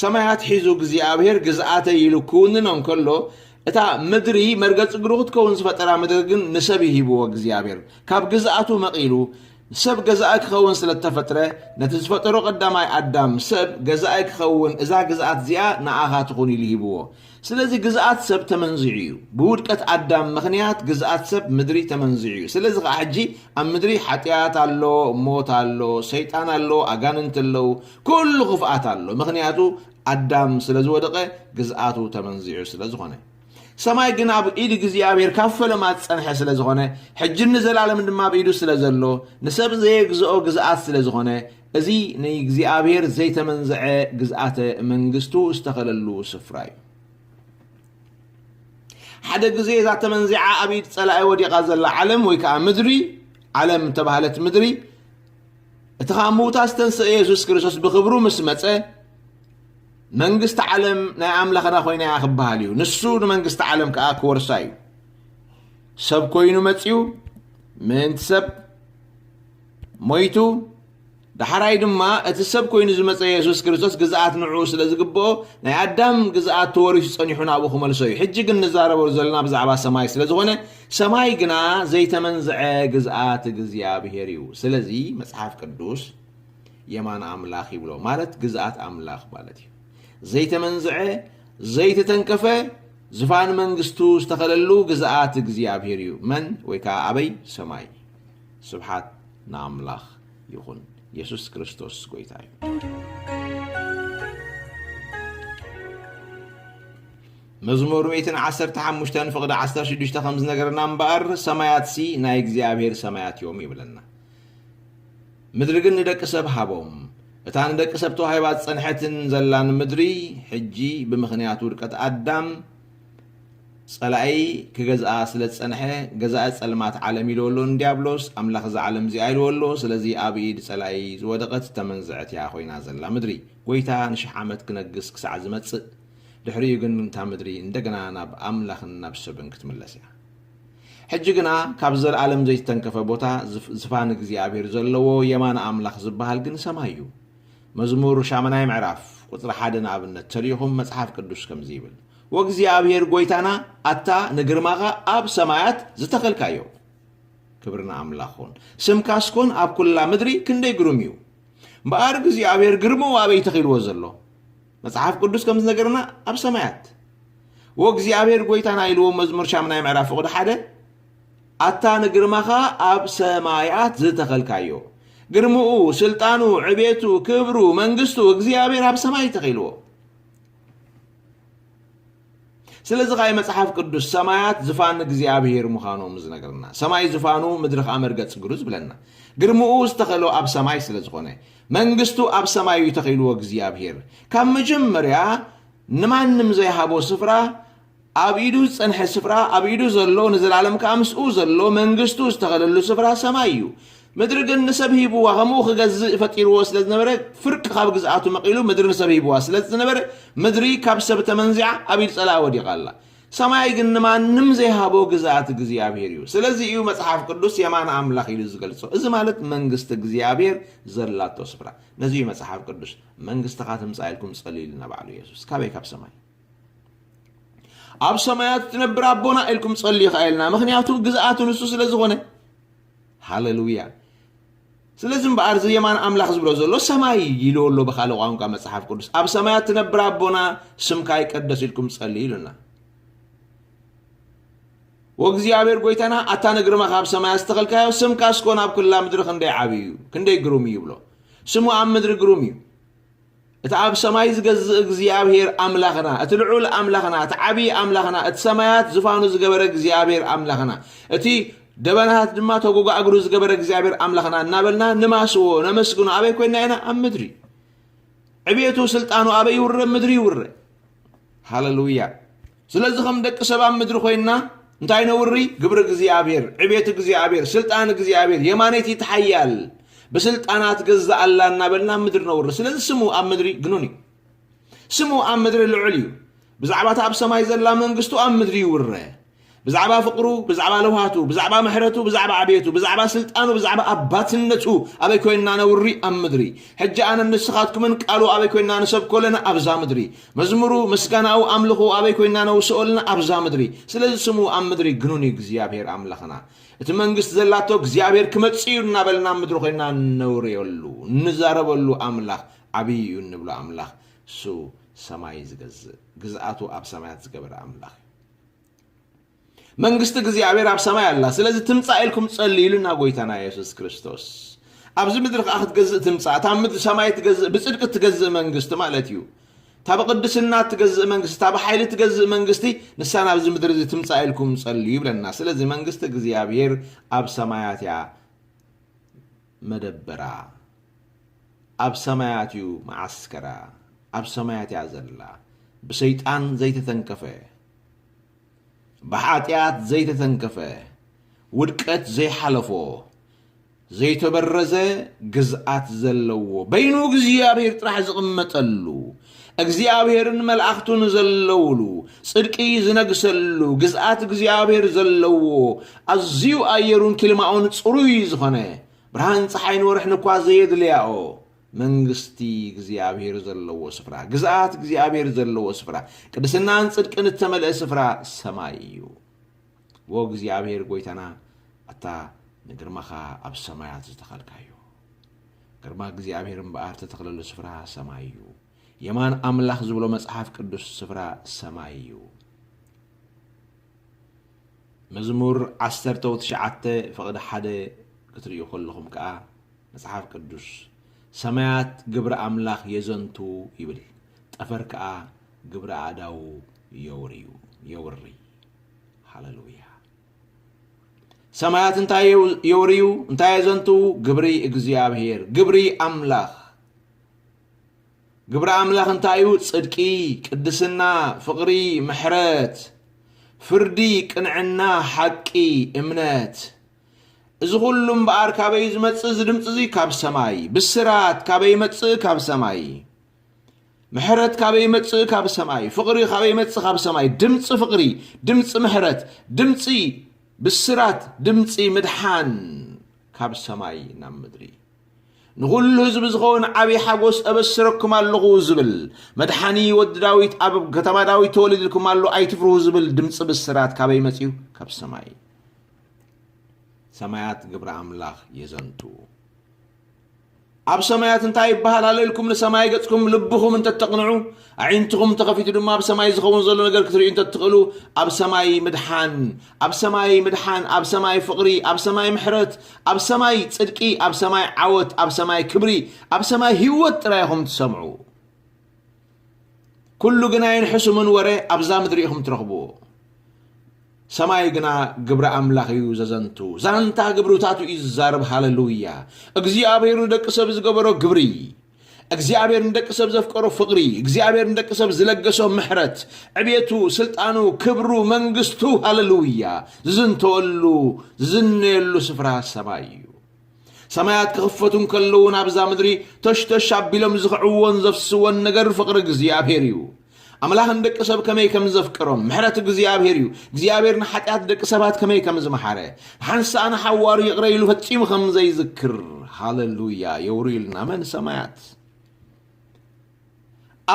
ሰማያት ሒዙ እግዚኣብሔር ግዝኣተ ኢሉ ክውንኖ እንከሎ እታ ምድሪ መርገፂ እግሩ ክትከውን ዝፈጠራ ምድሪ ግን ንሰብ ይሂብዎ እግዚኣብሔር ካብ ግዝኣቱ መቒሉ ሰብ ገዛኢ ክኸውን ስለ እተፈጥረ፣ ነቲ ዝፈጠሮ ቀዳማይ ኣዳም፣ ሰብ ገዛኢ ክኸውን እዛ ግዝኣት እዚኣ ንኣኻ ትኹን ኢሉ ሂብዎ። ስለዚ ግዝኣት ሰብ ተመንዚዑ እዩ። ብውድቀት ኣዳም ምኽንያት ግዝኣት ሰብ ምድሪ ተመንዚዑ እዩ። ስለዚ ኸኣ ሕጂ ኣብ ምድሪ ሓጢኣት ኣሎ፣ ሞት ኣሎ፣ ሰይጣን ኣሎ፣ ኣጋንንቲ ኣለዉ፣ ኩሉ ክፍኣት ኣሎ። ምኽንያቱ ኣዳም ስለ ዝወደቐ ግዝኣቱ ተመንዚዑ ስለ ዝኾነ። ሰማይ ግን ኣብ ኢድ እግዚኣብሔር ካብ ፈለማ ዝጸንሐ ስለ ዝኾነ ሕጅን ንዘላለም ድማ ኣብ ኢዱ ስለ ዘሎ ንሰብ ዘየግዝኦ ግዝኣት ስለ ዝኾነ እዚ ንእግዚኣብሔር ዘይተመንዝዐ ግዝኣተ መንግስቱ ዝተኸለሉ ስፍራ እዩ ሓደ ግዜ እዛ ተመንዚዓ ኣብ ኢድ ጸላኢ ወዲቓ ዘላ ዓለም ወይ ከዓ ምድሪ ዓለም ተባህለት ምድሪ እቲ ካብ ምውታ ዝተንስአ የሱስ ክርስቶስ ብክብሩ ምስ መፀ መንግስቲ ዓለም ናይ ኣምላኽና ኮይና እያ ክበሃል እዩ። ንሱ ንመንግስቲ ዓለም ከኣ ክወርሳ እዩ። ሰብ ኮይኑ መጺኡ ምእንቲ ሰብ ሞይቱ ዳሕራይ ድማ እቲ ሰብ ኮይኑ ዝመፀ የሱስ ክርስቶስ ግዝኣት ንዕኡ ስለ ዝግብኦ ናይ ኣዳም ግዝኣት ተወሪሱ ፀኒሑ ናብኡ ክመልሶ እዩ ሕጂ ግን ንዛረበሉ ዘለና ብዛዕባ ሰማይ ስለ ዝኾነ ሰማይ ግና ዘይተመንዝዐ ግዝኣት እግዚኣብሄር እዩ ስለዚ መፅሓፍ ቅዱስ የማን ኣምላኽ ይብሎ ማለት ግዝኣት ኣምላኽ ማለት እዩ። ዘይተመንዝዐ ዘይተተንከፈ ዝፋን መንግስቱ ዝተኸለሉ ግዝኣት እግዚኣብሔር እዩ። መን ወይ ከዓ ኣበይ ሰማይ። ስብሓት ንኣምላኽ ይኹን። የሱስ ክርስቶስ ጎይታ እዩ። መዝሙር ሚእትን ዓሰርተ ሓሙሽተን ፍቕዲ ዓሰርተ ሽዱሽተ ከም ዝነገረና እምበኣር ሰማያትሲ ናይ እግዚኣብሔር ሰማያት እዮም ይብለና። ምድሪ ግን ንደቂ ሰብ ሃቦም። እታ ንደቂ ሰብ ተዋሂባ ዝጸንሐትን ዘላን ምድሪ ሕጂ ብምኽንያት ውድቀት ኣዳም ጸላኢ ክገዝኣ ስለ ዝጸንሐ ገዛኢ ጸልማት ዓለም ኢልዎ ኣሎ ንድያብሎስ ኣምላኽ እዛ ዓለም እዚኣ ኢልዎ ኣሎ ስለዚ ኣብ ኢድ ጸላኢ ዝወደቐት ዝተመንዘዐት እያ ኮይና ዘላ ምድሪ ጎይታ ንሽሕ ዓመት ክነግስ ክሳዕ ዝመጽእ ድሕሪኡ ግን እታ ምድሪ እንደገና ናብ ኣምላኽን ናብ ሰብን ክትምለስ እያ። ሕጂ ግና ካብ ዘለኣለም ዘይተንከፈ ቦታ ዝፋን እግዚኣብሔር ዘለዎ የማነ ኣምላኽ ዝበሃል ግን ሰማይ እዩ። መዝሙር ሻምናይ ምዕራፍ ቁጽሪ ሓደ ንኣብነት ተሪኢኹም መጽሓፍ ቅዱስ ከምዚ ይብል ወእግዚኣብሔር ጎይታና ኣታ ንግርማኻ ኣብ ሰማያት ዝተኸልካዮ ክብሪ ንኣምላኽ ኹን ስምካስ ኮን ኣብ ኩላ ምድሪ ክንደይ ግሩም እዩ እምበኣር እግዚኣብሔር ግርምኡ ኣበይ ተኺልዎ ዘሎ መጽሓፍ ቅዱስ ከም ዝነገረና ኣብ ሰማያት ወእግዚኣብሔር ጎይታና ኢልዎ መዝሙር ሻምናይ ምዕራፍ ፍቕዲ ሓደ ኣታ ንግርማኻ ኣብ ሰማያት ዝተኸልካዮ ግርምኡ ስልጣኑ ዕቤቱ ክብሩ መንግስቱ እግዚኣብሔር ኣብ ሰማይ ተኺልዎ ስለዚ ከኣ እዩ መጽሓፍ ቅዱስ ሰማያት ዝፋን እግዚኣብሄር ምዃኖም ዝነግረና። ሰማይ ዝፋኑ ምድሪ ከኣ መርገጺ እግሩ ዝብለና። ግርምኡ ዝተኸሎ ኣብ ሰማይ ስለ ዝኾነ። መንግስቱ ኣብ ሰማይ እዩ ተኺልዎ እግዚኣብሄር። ካብ መጀመርያ ንማንም ዘይሃቦ ስፍራ ኣብ ኢዱ ዝጸንሐ ስፍራ ኣብ ኢዱ ዘሎ ንዘላለም ከኣ ምስኡ ዘሎ መንግስቱ ዝተኸለሉ ስፍራ ሰማይ እዩ። ምድሪ ግን ንሰብ ሂብዋ፣ ከምኡ ኺገዝእ ፈጢርዎ ስለ ዝነበረ፣ ፍርቂ ኻብ ግዝኣቱ መቒሉ ምድሪ ንሰብ ሂብዋ ስለ ዝነበረ፣ ምድሪ ካብ ሰብ ተመንዚዓ ኣብ ኢድ ጸላኢ ወዲቓ ኣላ። ሰማይ ግን ንማንም ዘይሃቦ ግዝኣት እግዚኣብሄር እዩ። ስለዚ እዩ መጽሓፍ ቅዱስ የማን ኣምላኽ ኢሉ ዝገልጾ፣ እዚ ማለት መንግስቲ እግዚኣብሄር ዘላቶ ስፍራ። ነዚ እዩ መጽሓፍ ቅዱስ መንግስትኻ ትምጻእ ኢልኩም ጸልዩ ኢልና ባዕሉ የሱስ። ካበይ ካብ ሰማይ ኣብ ሰማያት እትነብር ኣቦና ኢልኩም ጸልዩ ኸኣ ኢልና፣ ምኽንያቱ ግዝኣቱ ንሱ ስለ ዝኾነ። ሃለሉያ ስለዚ እምበኣር እዚ የማን ኣምላኽ ዝብሎ ዘሎ ሰማይ ኢልዎ ኣሎ ብካልእ ቋንቋ መጽሓፍ ቅዱስ ኣብ ሰማያት ትነብር ኣቦና ስምካ ይቀደስ ኢልኩም ጸልዩ ኢሉና ወእግዚኣብሔር ጎይታና ኣታ ንግርማኻ ኣብ ሰማያ ዝተኸልካዮ ስምካ እስኮን ኣብ ኩላ ምድሪ ክንደይ ዓብዩ ክንደይ ግሩም እዩ ይብሎ ስሙ ኣብ ምድሪ ግሩም እዩ እቲ ኣብ ሰማይ ዝገዝእ እግዚኣብሄር ኣምላኽና፣ እቲ ልዑል ኣምላኽና፣ እቲ ዓብዪ ኣምላኽና፣ እቲ ሰማያት ዝፋኑ ዝገበረ እግዚኣብሄር ኣምላኽና፣ እቲ ደበናታት ድማ ተጎጋ እግሩ ዝገበረ እግዚኣብሄር ኣምላኽና እናበልና ንማስዎ ነመስግኖ ኣበይ ኮይንና ኢና? ኣብ ምድሪ። ዕብየቱ ስልጣኑ ኣበይ ይውረ? ምድሪ ይውረ። ሃለሉያ ስለዚ ከም ደቂ ሰብ ኣብ ምድሪ ኮይንና እንታይ ነውሪ ግብሪ እግዚኣብሔር ዕቤት እግዚኣብሔር ስልጣን እግዚኣብሔር የማነይቲ ትሓያል ብስልጣናት ገዛ ኣላ እናበልና ኣብ ምድሪ ነውሪ ስለዚ ስሙ ኣብ ምድሪ ግኑን እዩ ስሙ ኣብ ምድሪ ልዑል እዩ ብዛዕባ እታ ኣብ ሰማይ ዘላ መንግስቱ ኣብ ምድሪ ይውረ ብዛዕባ ፍቕሩ፣ ብዛዕባ ለውሃቱ፣ ብዛዕባ ምሕረቱ፣ ብዛዕባ ዕብየቱ፣ ብዛዕባ ስልጣኑ፣ ብዛዕባ ኣባትነቱ ኣበይ ኮይንና ነውሪ? ኣብ ምድሪ። ሕጂ ኣነን ንስኻትኩምን ቃሉ ኣበይ ኮይንና ንሰብኮ ኣለና? ኣብዛ ምድሪ። መዝሙሩ፣ ምስጋናኡ፣ ኣምልኾኡ ኣበይ ኮይንና ነውስኦ ኣለና? ኣብዛ ምድሪ። ስለዚ ስሙ ኣብ ምድሪ ግኑን እዩ እግዚኣብሄር ኣምላኽና። እቲ መንግስቲ ዘላቶ እግዚኣብሄር ክመጽእ እዩ እናበልና ኣብ ምድሪ ኮይንና እነውርየሉ፣ እንዛረበሉ ኣምላኽ ዓብዪ እዩ እንብሎ ኣምላኽ እሱ ሰማይ ዝገዝእ፣ ግዝኣቱ ኣብ ሰማያት ዝገበረ ኣምላኽ እዩ። መንግስቲ እግዚኣብሔር ኣብ ሰማይ ኣላ ስለዚ ትምፃእ ኢልኩም ፀሊ ኢሉና ጎይታና የሱስ ክርስቶስ ኣብዚ ምድሪ ከዓ ክትገዝእ ትምፃእ እታ ምድሪ ሰማይ ትገዝእ ብፅድቂ እትገዝእ መንግስቲ ማለት እዩ እታ ብቅድስና እትገዝእ መንግስቲ እታ ብሓይሊ እትገዝእ መንግስቲ ንሳ ናብዚ ምድሪ እዚ ትምፃእ ኢልኩም ፀልዩ ይብለና ስለዚ መንግስቲ እግዚኣብሔር ኣብ ሰማያት እያ መደበራ ኣብ ሰማያት እዩ መዓስከራ ኣብ ሰማያት እያ ዘላ ብሰይጣን ዘይተተንከፈ ብሓጢኣት ዘይተተንከፈ ውድቀት ዘይሓለፎ ዘይተበረዘ ግዝኣት ዘለዎ በይኑ እግዚኣብሔር ጥራሕ ዝቕመጠሉ እግዚኣብሔርን መልኣኽቱን ዘለውሉ ጽድቂ ዝነግሰሉ ግዝኣት እግዚኣብሔር ዘለዎ ኣዝዩ ኣየሩን ኪልማኡን ጽሩይ ዝኾነ ብርሃን ፀሓይን ወርሕን እኳ ዘየድልያኦ መንግስቲ እግዚኣብሔር ዘለዎ ስፍራ ግዝኣት እግዚኣብሔር ዘለዎ ስፍራ ቅድስናን ጽድቅን እተመልአ ስፍራ ሰማይ እዩ ወ እግዚኣብሔር ጎይታና ኣታ ንግርማኻ ኣብ ሰማያት ዝተኸልካዮ ግርማ እግዚኣብሔር እምበኣር ተተኽለሉ ስፍራ ሰማይ እዩ። የማን ኣምላኽ ዝብሎ መጽሓፍ ቅዱስ ስፍራ ሰማይ እዩ። መዝሙር ዓሰርተው ትሽዓተ ፍቕዲ ሓደ ክትርእዩ ከለኹም ከዓ መጽሓፍ ቅዱስ ሰማያት ግብሪ ኣምላኽ የዘንቱ ይብል፣ ጠፈር ከዓ ግብሪ ኣእዳዉ የውርዩ የውሪ ሃለሉያ ሰማያት እንታይ የውርዩ እንታይ የዘንትዉ ግብሪ እግዚኣብሄር ግብሪ ኣምላኽ ግብሪ ኣምላኽ እንታይ እዩ ጽድቂ ቅድስና ፍቕሪ ምሕረት ፍርዲ ቅንዕና ሓቂ እምነት እዚ ኩሉ እምበኣር ካበይ ዝመጽእ እዚ ድምፂ እዚ ካብ ሰማይ ብስራት ካበይ ይመጽእ ካብ ሰማይ ምሕረት ካበይ ይመጽእ ካብ ሰማይ ፍቕሪ ካበይ ይመጽእ ካብ ሰማይ ድምፂ ፍቕሪ ድምፂ ምሕረት ድምፂ ብስራት ድምፂ ምድሓን ካብ ሰማይ ናብ ምድሪ ንኹሉ ህዝቢ ዝኸውን ዓብዪ ሓጎስ እበስረኩም ኣለኹ ዝብል መድሓኒ ወዲ ዳዊት ኣብ ከተማ ዳዊት ተወሊድልኩም ኣሎ ኣይትፍርሁ ዝብል ድምፂ ብስራት ካበይ መፅዩ ካብ ሰማይ ሰማያት ግብሪ ኣምላኽ የዘንቱ ኣብ ሰማያት እንታይ ይበሃል ኣሎ ኢልኩም ንሰማይ ገጽኩም ልብኹም እንተተቕንዑ ኣዒንትኹም ተኸፊቱ ድማ ኣብ ሰማይ ዝኸውን ዘሎ ነገር ክትርእዩ እንተትኽእሉ ኣብ ሰማይ ምድሓን ኣብ ሰማይ ምድሓን ኣብ ሰማይ ፍቕሪ ኣብ ሰማይ ምሕረት ኣብ ሰማይ ጽድቂ ኣብ ሰማይ ዓወት ኣብ ሰማይ ክብሪ ኣብ ሰማይ ህይወት ጥራይ ኢኹም ትሰምዑ ኩሉ ግና ኣይንሕሱምን ወረ ኣብዛ ምድሪ ኢኹም ትረኽብዎ ሰማይ ግና ግብሪ ኣምላኽ እዩ ዘዘንቱ ዛንታ ግብርታቱ እዩ ዝዛረብ ሃለሉያ እግዚኣብሔር ንደቂ ሰብ ዝገበሮ ግብሪ እግዚኣብሔር ንደቂ ሰብ ዘፍቀሮ ፍቕሪ እግዚኣብሔር ንደቂ ሰብ ዝለገሶ ምሕረት ዕቤቱ ስልጣኑ ክብሩ መንግስቱ ሃለሉያ ዝዝንተወሉ ዝዝነየሉ ስፍራ ሰማይ እዩ ሰማያት ክኽፈቱ እንከለዉ ናብዛ ምድሪ ተሽተሽ ኣቢሎም ዝኽዕዎን ዘፍስዎን ነገር ፍቕሪ እግዚኣብሔር እዩ። ኣምላኽ ንደቂ ሰብ ከመይ ከም ዘፍቅሮም ምሕረት እግዚኣብሔር እዩ። እግዚኣብሔር ንሓጢኣት ደቂ ሰባት ከመይ ከም ዝመሓረ ንሓንሳእ ንሓዋሩ ይቕረ ኢሉ ፈጺሙ ከም ዘይዝክር ሃለሉያ የውርዩልና መን ሰማያት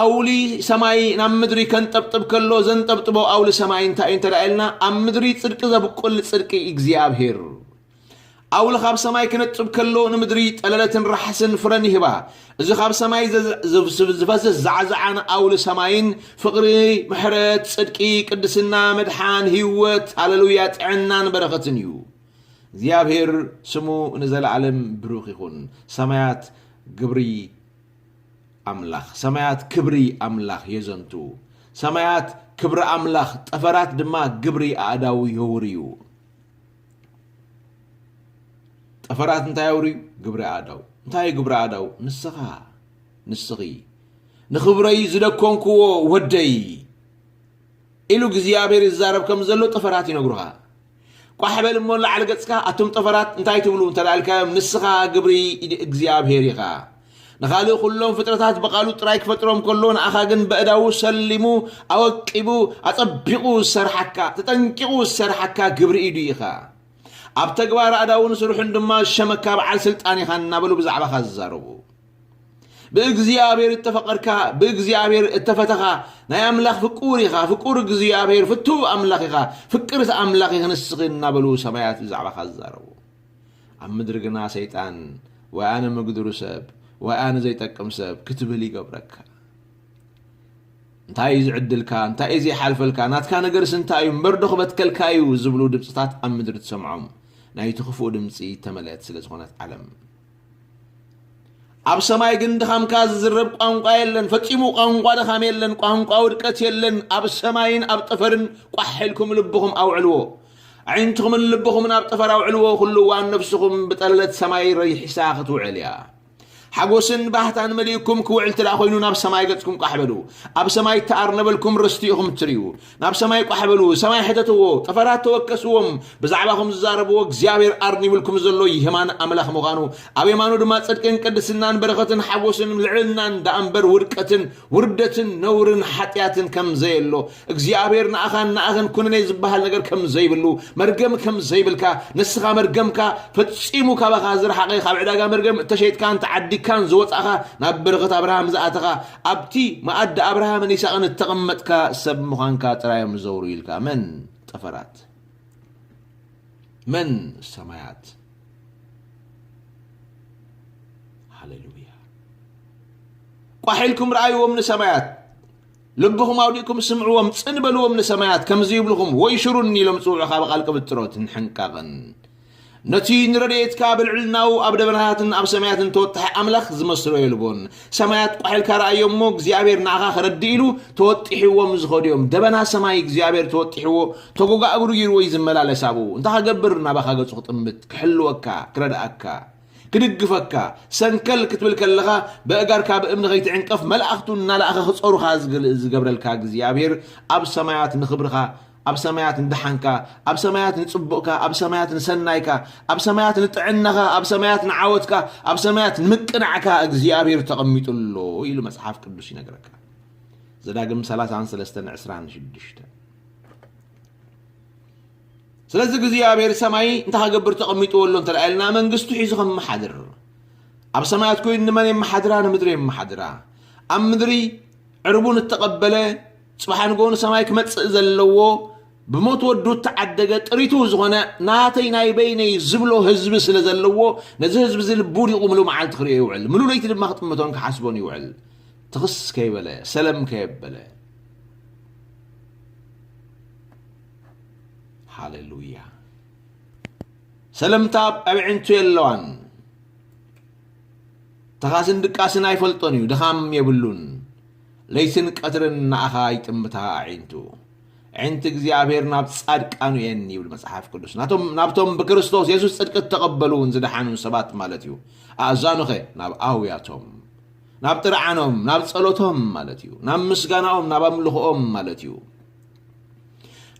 ኣውሊ ሰማይ ናብ ምድሪ ከንጠብጥብ ከሎ ዘንጠብጥቦ ኣውሊ ሰማይ እንታይ እዩ እንተ ኢልና ኣብ ምድሪ ጽድቂ ዘብቁል ጽድቂ እግዚኣብሄር ኣውሊ ካብ ሰማይ ክነጥብ ከሎ ንምድሪ ጠለለትን ራሕስን ፍረን ይህባ እዚ ካብ ሰማይ ዝፈስስ ዛዕዛዓን ኣውሊ ሰማይን ፍቕሪ ምሕረት ጽድቂ ቅድስና መድሓን ህይወት ሃለሉያ ጥዕናን በረኸትን እዩ እግዚኣብሄር ስሙ ንዘለዓለም ብሩኽ ይኹን ሰማያት ግብሪ ኣምላኽ ሰማያት ክብሪ ኣምላኽ የዘንቱ፣ ሰማያት ክብሪ ኣምላኽ፣ ጠፈራት ድማ ግብሪ ኣእዳዉ የውርዩ። ጠፈራት እንታይ የውርዩ? ግብሪ ኣእዳው። እንታይ እዩ ግብሪ ኣእዳው? ንስኻ ንስኺ ንኽብረይ ዝደኮንክዎ ወደይ ኢሉ እግዚኣብሔር ይዛረብ ከም ዘሎ ጠፈራት ይነግሩኻ። ቋሕ በል እሞ ንላዕሊ ገጽካ ኣቱም ጠፈራት እንታይ ትብሉ እንተ ኢልካዮም ንስኻ ግብሪ ኢድ እግዚኣብሄር ኢኻ ንኻልእ ኩሎም ፍጥረታት ብቓሉ ጥራይ ክፈጥሮም ከሎ ንኣኻ ግን በእዳዉ ሰሊሙ ኣወቂቡ ኣጸቢቑ ዝሰርሓካ ተጠንቂቑ ዝሰርሓካ ግብሪ ኢዱ ኢኻ ኣብ ተግባር ኣእዳውን ስርሑን ድማ ዝሸመካ በዓል ስልጣን ኢኻ እናበሉ ብዛዕባኻ ዝዛረቡ ብእግዚኣብሔር እተፈቐርካ ብእግዚኣብሔር እተፈተኻ ናይ ኣምላኽ ፍቁር ኢኻ ፍቁር እግዚኣብሔር ፍቱው ኣምላኽ ኢኻ ፍቅርት ኣምላኽ ኢኽ ንስኺ እናበሉ ሰማያት ብዛዕባኻ ዝዛረቡ ኣብ ምድሪ ግና ሰይጣን ወይ ኣነ ምግድሩ ሰብ ወይ ኣነ ዘይጠቅም ሰብ ክትብል ይገብረካ እንታይ እዩ ዝዕድልካ እንታይ እዩ ዘይሓልፈልካ ናትካ ነገርስ እንታይ እዩ እምበር ዶ ክበትከልካ እዩ ዝብሉ ድምፅታት ኣብ ምድሪ ትሰምዖም ናይቲ ክፉእ ድምፂ ተመልአት ስለ ዝኾነት ዓለም ኣብ ሰማይ ግን ድኻምካ ዝዝረብ ቋንቋ የለን ፈጺሙ ቋንቋ ድኻም የለን ቋንቋ ውድቀት የለን ኣብ ሰማይን ኣብ ጠፈርን ቋሕ ኢልኩም ልብኹም ኣውዕልዎ ኣዒንትኹምን ልብኹምን ኣብ ጠፈር ኣውዕልዎ ኩሉ እዋን ነፍስኹም ብጠለለት ሰማይ ረይሒሳ ክትውዕል እያ ሓጎስን ባህታን መሊእኩም ክውዕል ትደኣ ኮይኑ ናብ ሰማይ ገጽኩም ቃሕ በሉ ኣብ ሰማይ ተኣርነበልኩም ርስቲ ኢኹም እትርእዩ ናብ ሰማይ ቋሕ በሉ፣ ሰማይ ሕተትዎ፣ ጠፈራት ተወከስዎም፣ ብዛዕባኹም ዝዛረብዎ እግዚኣብሔር ኣርኒብልኩም ዘሎ የማን ኣምላኽ ምዃኑ፣ ኣብ የማኑ ድማ ጽድቅን ቅድስናን በረኸትን ሓጎስን ልዕልናን ደኣምበር ውድቀትን ውርደትን ነውርን ሓጢኣትን ከም ዘየሎ፣ እግዚኣብሔር ንኣኻን ንኣኽን ኩነኔ ዝበሃል ነገር ከም ዘይብሉ፣ መርገም ከም ዘይብልካ፣ ንስኻ መርገምካ ፈጺሙ ካባኻ ዝረሓቐ ካብ ዕዳጋ መርገም እተሸይጥካን ተዓዲግካን ዝወጻእኻ ናብ በረኸት ኣብርሃም ዝኣተኻ ኣብቲ መኣዲ ኣብርሃምን ይስሃቅን እተቐመጥካ ሰብ ምዃንካ ጥራይ እዮም ዝዘውሩ ኢልካ። መን ጠፈራት? መን ሰማያት? ሃሌሉያ! ቋሕ ኢልኩም ረኣይዎም ንሰማያት፣ ልብኹም ኣውዲእኩም ስምዕዎም፣ ጽን በልዎም ንሰማያት፣ ከምዚ ይብልኹም፣ ወይሽሩኒ ኢሎም ጽውዑኻ ብቓል ቅብጥሮት፣ ንሕንቃቕን ነቲ ንረድኤትካ ብልዕልናኡ ኣብ ደበናታትን ኣብ ሰማያትን ተወጣሒ ኣምላኽ ዝመስሎ የልቦን። ሰማያት ቋሕ ኢልካ ረኣዮ እሞ እግዚኣብሔር ንኣኻ ከረድእ ኢሉ ተወጢሕዎም ዝኸዱ እዮም። ደበና ሰማይ እግዚኣብሔር ተወጢሕዎ ተጎጋ እግሩ ጊርዎ እዩ ዝመላለስ ኣብኡ። እንታይ ከገብር ናባኻ ገጹ ክጥምት፣ ክሕልወካ፣ ክረድኣካ፣ ክድግፈካ፣ ሰንከል ክትብል ከለኻ በእጋርካ ብእምኒ ከይትዕንቀፍ መላእኽቱ እናለኣኸ ክጸሩኻ ዝገብረልካ እግዚኣብሔር ኣብ ሰማያት ንኽብርኻ ኣብ ሰማያት ንደሓንካ፣ ኣብ ሰማያት ንጽቡቕካ፣ ኣብ ሰማያት ንሰናይካ፣ ኣብ ሰማያት ንጥዕናኻ፣ ኣብ ሰማያት ንዓወትካ፣ ኣብ ሰማያት ንምቅናዕካ እግዚኣብሔር ተቐሚጡ ኣሎ ኢሉ መጽሓፍ ቅዱስ ይነግረካ። ዘዳግም 33 26 ስለዚ እግዚኣብሔር ሰማይ እንታይ ከገብር ተቐሚጥዎ ኣሎ እንተ ኢልና መንግስቱ ሒዙ ከመሓድር ኣብ ሰማያት ኮይኑ ንመን የመሓድራ ንምድሪ የመሓድራ ኣብ ምድሪ ዕርቡን እተቐበለ ጽባሕ ንግሆ ንሰማይ ክመጽእ ዘለዎ ብሞት ወዱ እተዓደገ ጥሪቱ ዝኾነ ናተይ ናይ በይነይ ዝብሎ ህዝቢ ስለ ዘለዎ ነዚ ህዝቢ እዚ ልቡ ዲቑ ምሉ መዓልቲ ክርእዮ ይውዕል ምሉ ለይቲ ድማ ክጥምቶን ክሓስቦን ይውዕል ትኽስ ከይበለ ሰለም ከየበለ ሃሌሉያ ሰለምታ ኣብ ኣዕንቱ የለዋን ተኻስን ድቃስን ኣይፈልጦን እዩ ድኻም የብሉን ለይትን ቀትርን ንኣኻ ይጥምታ ኣዒንቱ። ኣዒንቲ እግዚኣብሔር ናብ ጻድቃኑ እየን ይብል መጽሓፍ ቅዱስ። ናቶም ናብቶም ብክርስቶስ የሱስ ጽድቂ እተቐበሉን ዝደሓኑን ሰባት ማለት እዩ። ኣእዛኑኸ ናብ ኣውያቶም፣ ናብ ጥርዓኖም፣ ናብ ጸሎቶም ማለት እዩ። ናብ ምስጋናኦም፣ ናብ ኣምልኾኦም ማለት እዩ።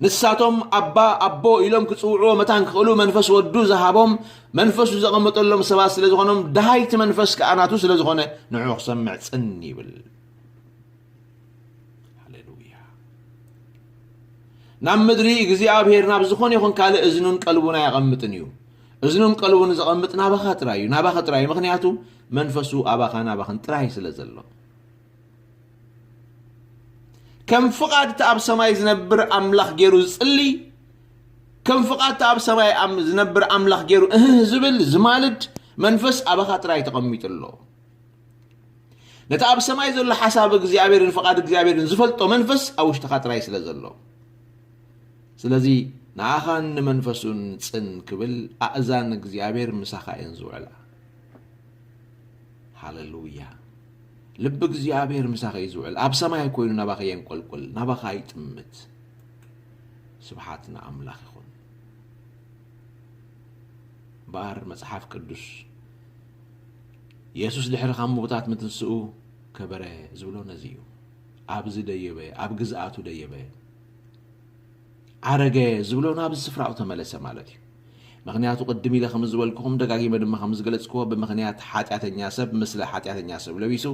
ንሳቶም ኣባ ኣቦ ኢሎም ክጽውዕዎ መታን ክኽእሉ መንፈስ ወዱ ዝሃቦም መንፈሱ ዘቐመጠሎም ሰባት ስለ ዝኾኖም ደሃይቲ መንፈስ ከዓ ናቱ ስለ ዝኾነ ንዑ ክሰምዕ ጽን ይብል ሃሌሉያ ናብ ምድሪ እግዚኣብሄር ናብ ዝኾነ ይኹን ካልእ እዝኑን ቀልቡን ኣየቐምጥን እዩ እዝኑን ቀልቡን ዘቐምጥ ናባኻ ጥራይ እዩ ናባኻ ጥራይ እዩ ምክንያቱ መንፈሱ ኣባኻ ናባኽን ጥራይ ስለ ዘሎ ከም ፍቓድ እቲ ኣብ ሰማይ ዝነብር ኣምላኽ ገይሩ ዝጽሊ ከም ፍቓድ እቲ ኣብ ሰማይ ዝነብር ኣምላኽ ገይሩ እህህ ዝብል ዝማልድ መንፈስ ኣባኻ ጥራይ ተቐሚጡ ኣሎ ነቲ ኣብ ሰማይ ዘሎ ሓሳብ እግዚኣብሔርን ፍቓድ እግዚኣብሔርን ዝፈልጦ መንፈስ ኣብ ውሽጥኻ ጥራይ ስለ ዘሎ ስለዚ ንኣኻን ንመንፈሱን ጽን ክብል ኣእዛን እግዚኣብሔር ምሳኻ እየን ዝውዕላ ሃለሉያ ልቢ እግዚኣብሔር ምሳኸ እዩ ዝውዕል ኣብ ሰማይ ኮይኑ ናባኸ የንቆልቁል ናባኻ ይጥምት ስብሓት ንኣምላኽ ይኹን እምበኣር መፅሓፍ ቅዱስ የሱስ ድሕሪ ካብ ምውታት ምትንስኡ ከበረ ዝብሎ ነዚ እዩ ኣብዚ ደየበ ኣብ ግዝኣቱ ደየበ ኣረገ ዝብሎ ናብ ስፍራኡ ተመለሰ ማለት እዩ። ምክንያቱ ቅድም ኢለ ከም ዝበልኩኹም ደጋጊመ ድማ ከም ዝገለጽክዎ ብምክንያት ሓጢኣተኛ ሰብ ምስለ ሓጢኣተኛ ሰብ ለቢሱ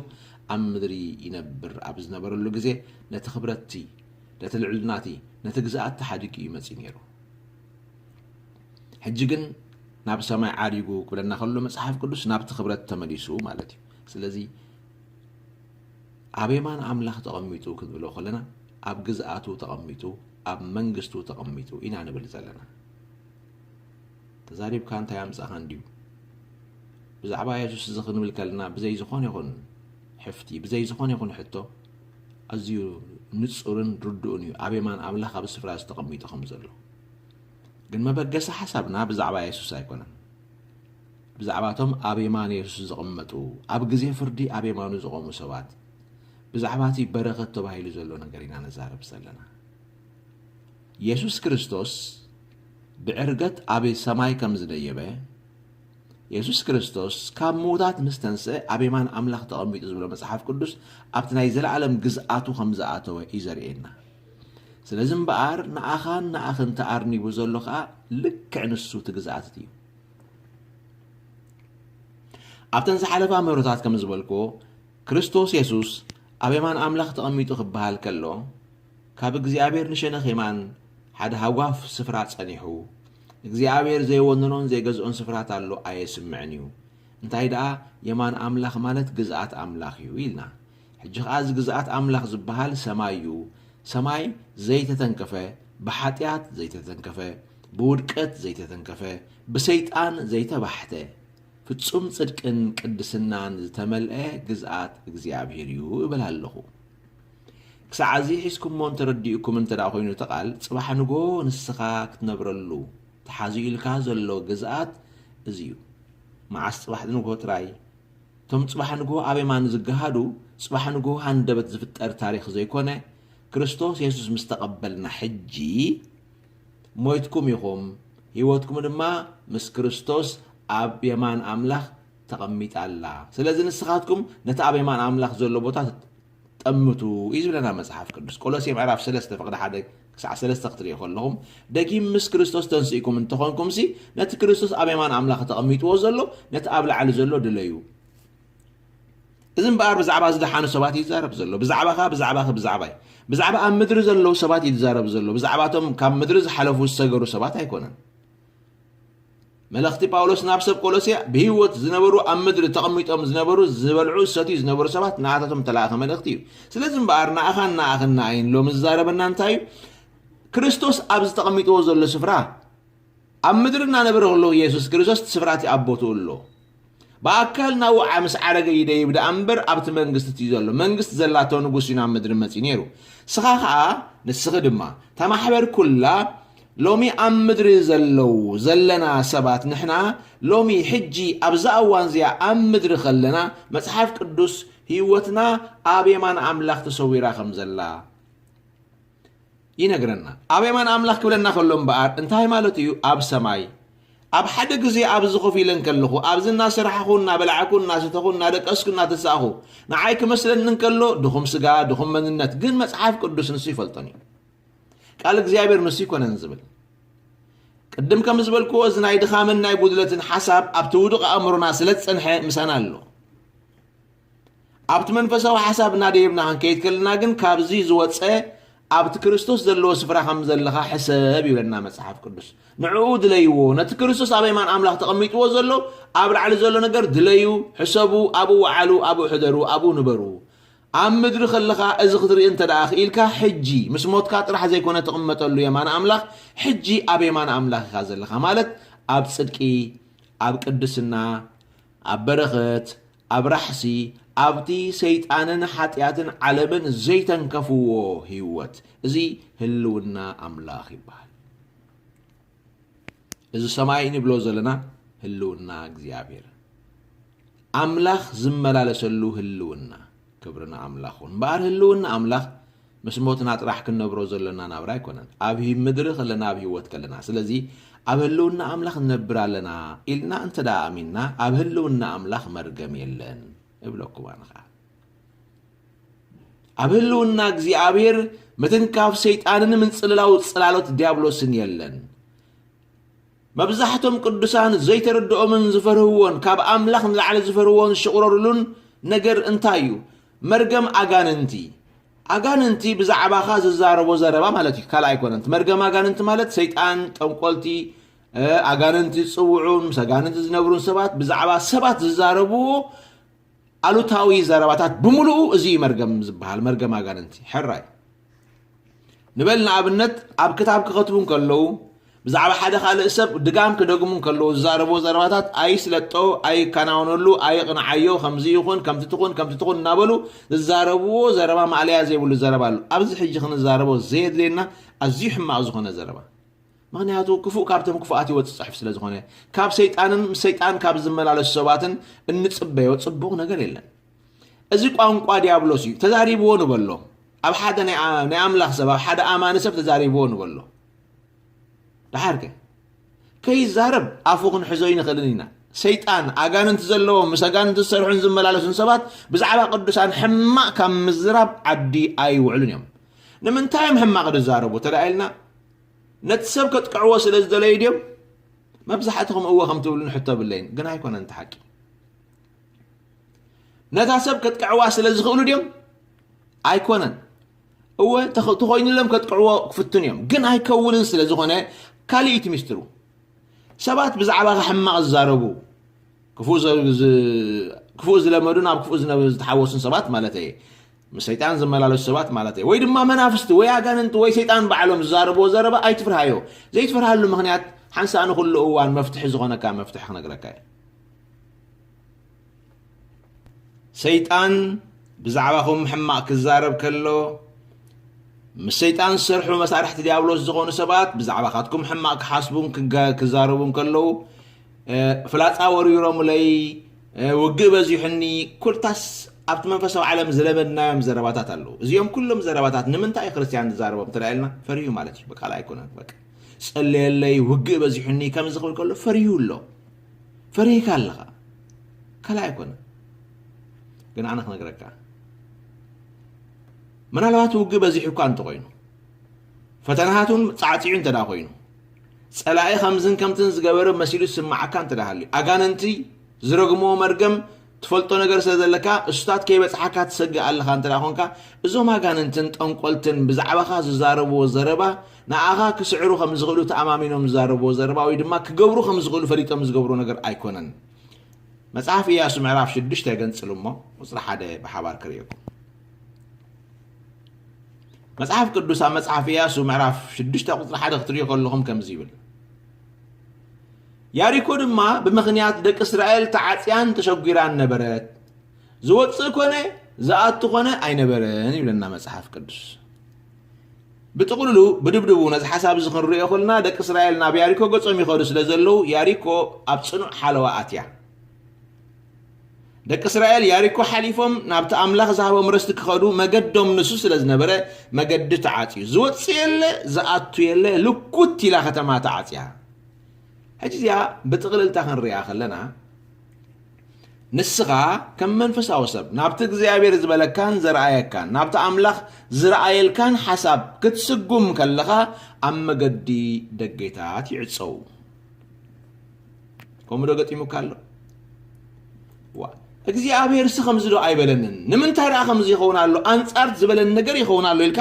ኣብ ምድሪ ይነብር ኣብ ዝነበረሉ ግዜ ነቲ ክብረትቲ ነቲ ልዕልናቲ ነቲ ግዝኣት ተሓዲጉ እዩ መጺኡ ነይሩ። ሕጂ ግን ናብ ሰማይ ዓሪጉ ክብለና ከሎ መጽሓፍ ቅዱስ ናብቲ ክብረት ተመሊሱ ማለት እዩ። ስለዚ ኣብ የማን ኣምላኽ ተቐሚጡ ክንብሎ ከለና ኣብ ግዝኣቱ ተቐሚጡ ኣብ መንግስቱ ተቐሚጡ ኢና ንብል ዘለና። ተዛሪብካ እንታይ ኣምጻኻ እንድዩ ብዛዕባ የሱስ እዚ ክንብል ከለና ብዘይ ዝኾነ ይኹን ሕፍቲ ብዘይ ዝኾነ ይኹን ሕቶ ኣዝዩ ንጹርን ርዱእን እዩ ኣብ የማን ኣምላኽ ኣብ ስፍራ ዝተቐሚጡ ከም ዘሎ ግን መበገሲ ሓሳብና ብዛዕባ የሱስ ኣይኮነን ብዛዕባ እቶም ኣብ የማን የሱስ ዝቕመጡ፣ ኣብ ግዜ ፍርዲ ኣብ የማኑ ዝቖሙ ሰባት፣ ብዛዕባ እቲ በረኸት ተባሂሉ ዘሎ ነገር ኢና ንዛረብ ዘለና። የሱስ ክርስቶስ ብዕርገት ኣብ ሰማይ ከም ዝደየበ፣ የሱስ ክርስቶስ ካብ ምዉታት ምስ ተንስአ ኣብ የማን ኣምላኽ ተቐሚጡ ዝብሎ መጽሓፍ ቅዱስ ኣብቲ ናይ ዘለኣለም ግዝኣቱ ከም ዝኣተወ እዩ ዘርእየና። ስለዚ እምበኣር ንኣኻን ንኣኽን ተኣርኒቡ ዘሎ ከኣ ልክዕ ንሱ እቲ ግዝኣት እቲ እዩ። ኣብተን ዝሓለፋ ምህሮታት ከም ዝበልክዎ ክርስቶስ የሱስ ኣብ የማን ኣምላኽ ተቐሚጡ ክበሃል ከሎ ካብ እግዚኣብሔር ንሸነኽ የማን ሓደ ሃጓፍ ስፍራ ጸኒሑ እግዚኣብሔር ዘይወንኖን ዘይገዝኦን ስፍራት ኣሎ ኣየስምዕን እዩ እንታይ ደኣ የማን ኣምላኽ ማለት ግዝኣት ኣምላኽ እዩ ኢልና ሕጂ ኸኣ እዚ ግዝኣት ኣምላኽ ዝበሃል ሰማይ እዩ፣ ሰማይ ዘይተተንከፈ፣ ብሓጢኣት ዘይተተንከፈ፣ ብውድቀት ዘይተተንከፈ፣ ብሰይጣን ዘይተባሕተ፣ ፍጹም ጽድቅን ቅድስናን ዝተመልአ ግዝኣት እግዚኣብሄር እዩ እብል ኣለኹ። ክሳዕ እዚ ሒዝኩሞ እንተ ረዲኡኩም እንተ ደኣ ዀይኑ እቲ ቓል፣ ጽባሕ ንግሆ ንስኻ ክትነብረሉ ተሓዚኡልካ ዘሎ ግዝኣት እዚ እዩ። መዓስ ጽባሕ ንግሆ ጥራይ? እቶም ጽባሕ ንግሆ ኣብ የማን ዝገሃዱ ጽባሕ ንግሆ ሃንደበት ዝፍጠር ታሪኽ ዘይኮነ ክርስቶስ የሱስ ምስ ተቐበልና ሕጂ ሞይትኩም ኢኹም ህይወትኩም ድማ ምስ ክርስቶስ ኣብ የማን ኣምላኽ ተቐሚጣ ኣላ ስለዚ ንስኻትኩም ነቲ ኣብ የማን ኣምላኽ ዘሎ ቦታ ጠምቱ እዩ ዝብለና መጽሓፍ ቅዱስ። ቆሎሴ ምዕራፍ ሰለስተ ፍቕዲ ሓደ ክሳዕ ሰለስተ ክትርእዩ ከለኹም ደጊም ምስ ክርስቶስ ተንሲእኩም እንተኾንኩምሲ ነቲ ክርስቶስ ኣብ የማን ኣምላኽ ተቐሚጥዎ ዘሎ ነቲ ኣብ ላዕሊ ዘሎ ድለዩ። እዚ እምበኣር ብዛዕባ ዝደሓኑ ሰባት እዩ ዝዛረብ ዘሎ። ብዛዕባኻ፣ ብዛዕባኺ፣ ብዛዕባይ፣ ብዛዕባ ኣብ ምድሪ ዘለዉ ሰባት እዩ ዝዛረብ ዘሎ። ብዛዕባቶም ካብ ምድሪ ዝሓለፉ ዝሰገሩ ሰባት ኣይኮነን። መልእኽቲ ጳውሎስ ናብ ሰብ ቆሎስያ ብህይወት ዝነበሩ ኣብ ምድሪ ተቐሚጦም ዝነበሩ ዝበልዑ ዝሰትዩ ዝነበሩ ሰባት ንኣታቶም እተላእኸ መልእኽቲ እዩ ስለዚ እምበኣር ንኣኻን ንኣኽን ንኣይን ሎሚ ዝዛረበና እንታይ እዩ ክርስቶስ ኣብዚ ተቐሚጥዎ ዘሎ ስፍራ ኣብ ምድሪ እናነበረ ከለዉ የሱስ ክርስቶስ እቲ ስፍራ እቲ ኣብ ቦትኡ ኣሎ ብኣካል ናውዓ ምስ ዓረገ ይደይብ ደኣ እምበር ኣብቲ መንግስት እዩ ዘሎ መንግስት ዘላቶ ንጉስ እዩ ናብ ምድሪ መጺኡ ነይሩ ስኻ ከኣ ንስኺ ድማ እታ ማሕበር ኩላ ሎሚ ኣብ ምድሪ ዘለው ዘለና ሰባት ንሕና ሎሚ ሕጂ ኣብዛ እዋን እዚኣ ኣብ ምድሪ ከለና መጽሓፍ ቅዱስ ህይወትና ኣብ የማን ኣምላኽ ተሰዊራ ከም ዘላ ይነግረና። ኣብ የማን ኣምላኽ ክብለና ከሎ እምበኣር እንታይ ማለቱ እዩ? ኣብ ሰማይ። ኣብ ሓደ ግዜ ኣብዚ ኮፍ ኢለ እንከለኹ፣ ኣብዚ እናሰራሕኹ፣ እናበላዕኩ፣ እናሰተኹ፣ እናደቀስኩ፣ እናተሳእኹ፣ ንዓይ ክመስለኒ እንከሎ፣ ድኹም ስጋ፣ ድኹም መንነት፣ ግን መጽሓፍ ቅዱስ ንሱ ይፈልጦን እዩ። ቃል እግዚኣብሔር ንሱ ይኮነን ዝብል ቅድም ከም ዝበልክዎ እዚ ናይ ድኻምን ናይ ጉድለትን ሓሳብ ኣብቲ ውዱቕ ኣእምሮና ስለ ዝጸንሐ ምሳና ኣሎ። ኣብቲ መንፈሳዊ ሓሳብ እናደየብና ክንከይድ ከለና ግን ካብዚ ዝወፀ ኣብቲ ክርስቶስ ዘለዎ ስፍራ ከም ዘለኻ ሕሰብ ይብለና መጽሓፍ ቅዱስ። ንዕኡ ድለይዎ፣ ነቲ ክርስቶስ ኣብ የማን ኣምላኽ ተቐሚጥዎ ዘሎ ኣብ ላዕሊ ዘሎ ነገር ድለዩ፣ ሕሰቡ፣ ኣብኡ ወዓሉ፣ ኣብኡ ሕደሩ፣ ኣብኡ ንበሩ። ኣብ ምድሪ ከለኻ እዚ ክትርኢ እንተ ደኣ ክኢልካ ሕጂ ምስ ሞትካ ጥራሕ ዘይኮነ ትቕመጠሉ የማን ኣምላኽ ሕጂ ኣብ የማን ኣምላኽ ኢኻ ዘለኻ ማለት ኣብ ጽድቂ ኣብ ቅድስና ኣብ በረኸት፣ ኣብ ራሕሲ፣ ኣብ'ቲ ሰይጣንን ሓጢኣትን ዓለምን ዘይተንከፍዎ ህይወት። እዚ ህልውና ኣምላኽ ይበሃል። እዚ ሰማይ እንብሎ ዘለና ህልውና እግዚኣብሔር። ኣምላኽ ዝመላለሰሉ ህልውና። ክብሪ ንኣምላኽ ይኹን እምበኣር ህልውና ኣምላኽ ምስ ሞትና ጥራሕ ክንነብሮ ዘሎና ናብራ ኣይኮነን፣ ኣብ ሂብ ምድሪ ከለና ኣብ ህይወት ከለና። ስለዚ ኣብ ህልውና ኣምላኽ ንነብር ኣለና ኢልና እንተ ደኣ ኣሚንና ኣብ ህልውና ኣምላኽ መርገም የለን እብለኩም ኣነ ኸኣ። ኣብ ህልውና እግዚኣብሔር ምትንካፍ ሰይጣንን ምንጽልላው ጽላሎት ዲያብሎስን የለን። መብዛሕቶም ቅዱሳን ዘይተረድኦምን ዝፈርህዎን ካብ ኣምላኽ ንላዕሊ ዝፈርህዎን ዝሽቑረርሉን ነገር እንታይ እዩ? መርገም ኣጋንንቲ። ኣጋንንቲ ብዛዕባኻ ዝዛረቦ ዘረባ ማለት እዩ፣ ካልእ ኣይኮነን። እቲ መርገም ኣጋንንቲ ማለት ሰይጣን፣ ጠንቆልቲ፣ እ፣ ኣጋንንቲ ዝጽውዑን ምስ ኣጋንንቲ ዝነብሩን ሰባት ብዛዕባ ሰባት ዝዛረብዎ ኣሉታዊ ዘረባታት ብምሉኡ እዚ እዩ መርገም ዝበሃል መርገም ኣጋንንቲ ሕራይ ንበል ንኣብነት ኣብ ክታብ ክኸትቡ ከለዉ ብዛዕባ ሓደ ካልእ ሰብ ድጋም ክደግሙ ከለዉ ዝዛረቦ ዘረባታት ኣይስለጦ ኣይከናወነሉ ኣይቕንዓዮ ከምዚ ይኹን ከምቲ ትኹን ከምቲ ትኹን እናበሉ ዝዛረብዎ ዘረባ ማእለያ ዘይብሉ ዘረባ ኣሎ ኣብዚ ሕጂ ክንዛረቦ ዘየድልየና ኣዝዩ ሕማቕ ዝኾነ ዘረባ ምኽንያቱ ክፉእ ካብቶም ክፉኣት ይወጽእ ጽሑፍ ስለ ዝኾነ። ካብ ሰይጣንን ምስ ሰይጣን ካብ ዝመላለሱ ሰባትን እንጽበዮ ጽቡቕ ነገር የለን። እዚ ቋንቋ ዲያብሎስ እዩ፣ ተዛሪብዎ ንበሎ። ኣብ ሓደ ናይ ኣ- ናይ ኣምላኽ ሰብ ኣብ ሓደ ኣማኒ ሰብ ተዛሪብዎ ንበሎ። ደሓር ከ ከይዛረብ ኣፉ ክንሕዞ ይንኽእልን ኢና። ሰይጣን ኣጋንንቲ ዘለዎም ምስ ኣጋንንቲ ዝሰርሑን ዝመላለሱን ሰባት ብዛዕባ ቅዱሳን ሕማቕ ካብ ምዝራብ ዓዲ ኣይውዕሉን እዮም። ንምንታይ እዮም ሕማቕ ዝዛረቡ ተደኣ ኢልና ነቲ ሰብ ከጥቅዕዎ ስለ ዝደለዩ ድዮም መብዛሕትኹም እወ ከም ትብሉ ንሕቶ ብለይን ግን ኣይኮነን እቲ ሓቂ ነታ ሰብ ከጥቅዕዋ ስለ ዝኽእሉ ድዮም ኣይኮነን እወ ተኾይኑሎም ከጥቅዕዎ ክፍትን እዮም ግን ኣይከውንን ስለ ዝኾነ ካልእ እቲ ሚስጢሩ ሰባት ብዛዕባኻ ሕማቕ ዝዛረቡ ክፉእ ዝለመዱን ኣብ ክፉእ ዝተሓወሱን ሰባት ማለት እየ ምስ ሰይጣን ዝመላለሱ ሰባት ማለተይ ወይ ድማ መናፍስቲ ወይ ኣጋንንቲ ወይ ሰይጣን ባዕሎም ዝዛረብዎ ዘረባ ኣይትፍርሃዮ። ዘይትፈርሃሉ ምኽንያት ሓንሳእ ንኹሉ እዋን መፍትሒ ዝኾነካ መፍትሒ ክነግረካ እየ። ሰይጣን ብዛዕባኹም ሕማቕ ክዛረብ ከሎ ምስ ሰይጣን ዝሰርሑ መሳርሕቲ ዲያብሎስ ዝኾኑ ሰባት ብዛዕባኻትኩም ሕማቕ ክሓስቡን ክዛረቡን ከለዉ ፍላጻ ወሪሮምለይ፣ ውግእ በዚሑኒ፣ ኩታስ ኣብቲ መንፈሳዊ ዓለም ዝለመድናዮም ዘረባታት ኣለዉ። እዚኦም ኩሎም ዘረባታት ንምንታይ እዩ ክርስትያን ዝዛረቦም እንተ ኢልና ፈሪሁ ማለት እዩ። በቃ ኣይኮነን በቃ ጸለየለይ፣ ውግእ በዚሑኒ ከምዚ ክብል ከሎ ፈሪሁ ኣሎ። ፈሪህካ ኣለኻ ካልእ ኣይኮነን። ግን ኣነ ክነግረካ ምናልባት ውግእ በዚሑ እኳ እንተኾይኑ ፈተናታቱን ጻዕጺዑ እንተ ኾይኑ፣ ጸላኢ ከምዝን ከምትን ዝገበረ መሲሉ ዝስምዓካ እንተ ሃልዩ፣ ኣጋንንቲ ዝረግምዎ መርገም ትፈልጦ ነገር ስለ ዘለካ እሱታት ከይበጽሓካ ትሰግእ ኣለኻ እንተ ኾንካ፣ እዞም ኣጋንንትን ጠንቆልትን ብዛዕባኻ ዝዛረብዎ ዘረባ ንኣኻ ክስዕሩ ከም ዝኽእሉ ተኣማሚኖም ዝዛረብዎ ዘረባ ወይ ድማ ክገብሩ ከም ዝኽእሉ ፈሊጦም ዝገብርዎ ነገር ኣይኮነን። መጽሓፍ ኢያሱ ምዕራፍ ሽዱሽተ ገንጽሉ እሞ ቁጽሪ ሓደ ብሓባር ክርእየኩም። መጽሓፍ ቅዱስ ኣብ መጽሓፍ ኢያሱ ምዕራፍ ሽዱሽተ ቁጽሪ ሓደ ክትርእዩ ከለኹም ከምዚ ይብል ያሪኮ ድማ ብምኽንያት ደቂ እስራኤል ተዓጽያን ተሸጒራን ነበረት ዝወፅእ ኮነ ዝኣቱ ኮነ ኣይነበረን ይብለና መጽሓፍ ቅዱስ ብጥቕልሉ ብድብድቡ ነዚ ሓሳብ እዚ ክንሪኦ ከለና ደቂ እስራኤል ናብ ያሪኮ ገጾም ይኸዱ ስለ ዘለዉ ያሪኮ ኣብ ጽኑዕ ሓለዋ ኣትያ ደቂ እስራኤል ያሪኮ ሓሊፎም ናብቲ ኣምላኽ ዝሃቦም ርስቲ ክኸዱ መገዶም ንሱ ስለ ዝነበረ መገዲ ተዓፅዩ ዝወፅ የለ ዝኣቱ የለ ልኩት ኢላ ከተማ ተዓፅያ ሕጂ እዚኣ ብጥቕልልታ ክንሪኣ ከለና ንስኻ ከም መንፈሳዊ ሰብ ናብቲ እግዚኣብሔር ዝበለካን ዘረኣየካን ናብቲ ኣምላኽ ዝረኣየልካን ሓሳብ ክትስጉም ከለኻ ኣብ መገዲ ደጌታት ይዕፀው ከምኡ ዶ ገጢሙካ ኣሎ ዋ እግዚኣብሔር ሲ ከምዚ ዶ ኣይበለንን ንምንታይ ደኣ ከምዚ ይኸውን ኣሎ ኣንጻር ዝበለኒ ነገር ይኸውን ኣሎ ኢልካ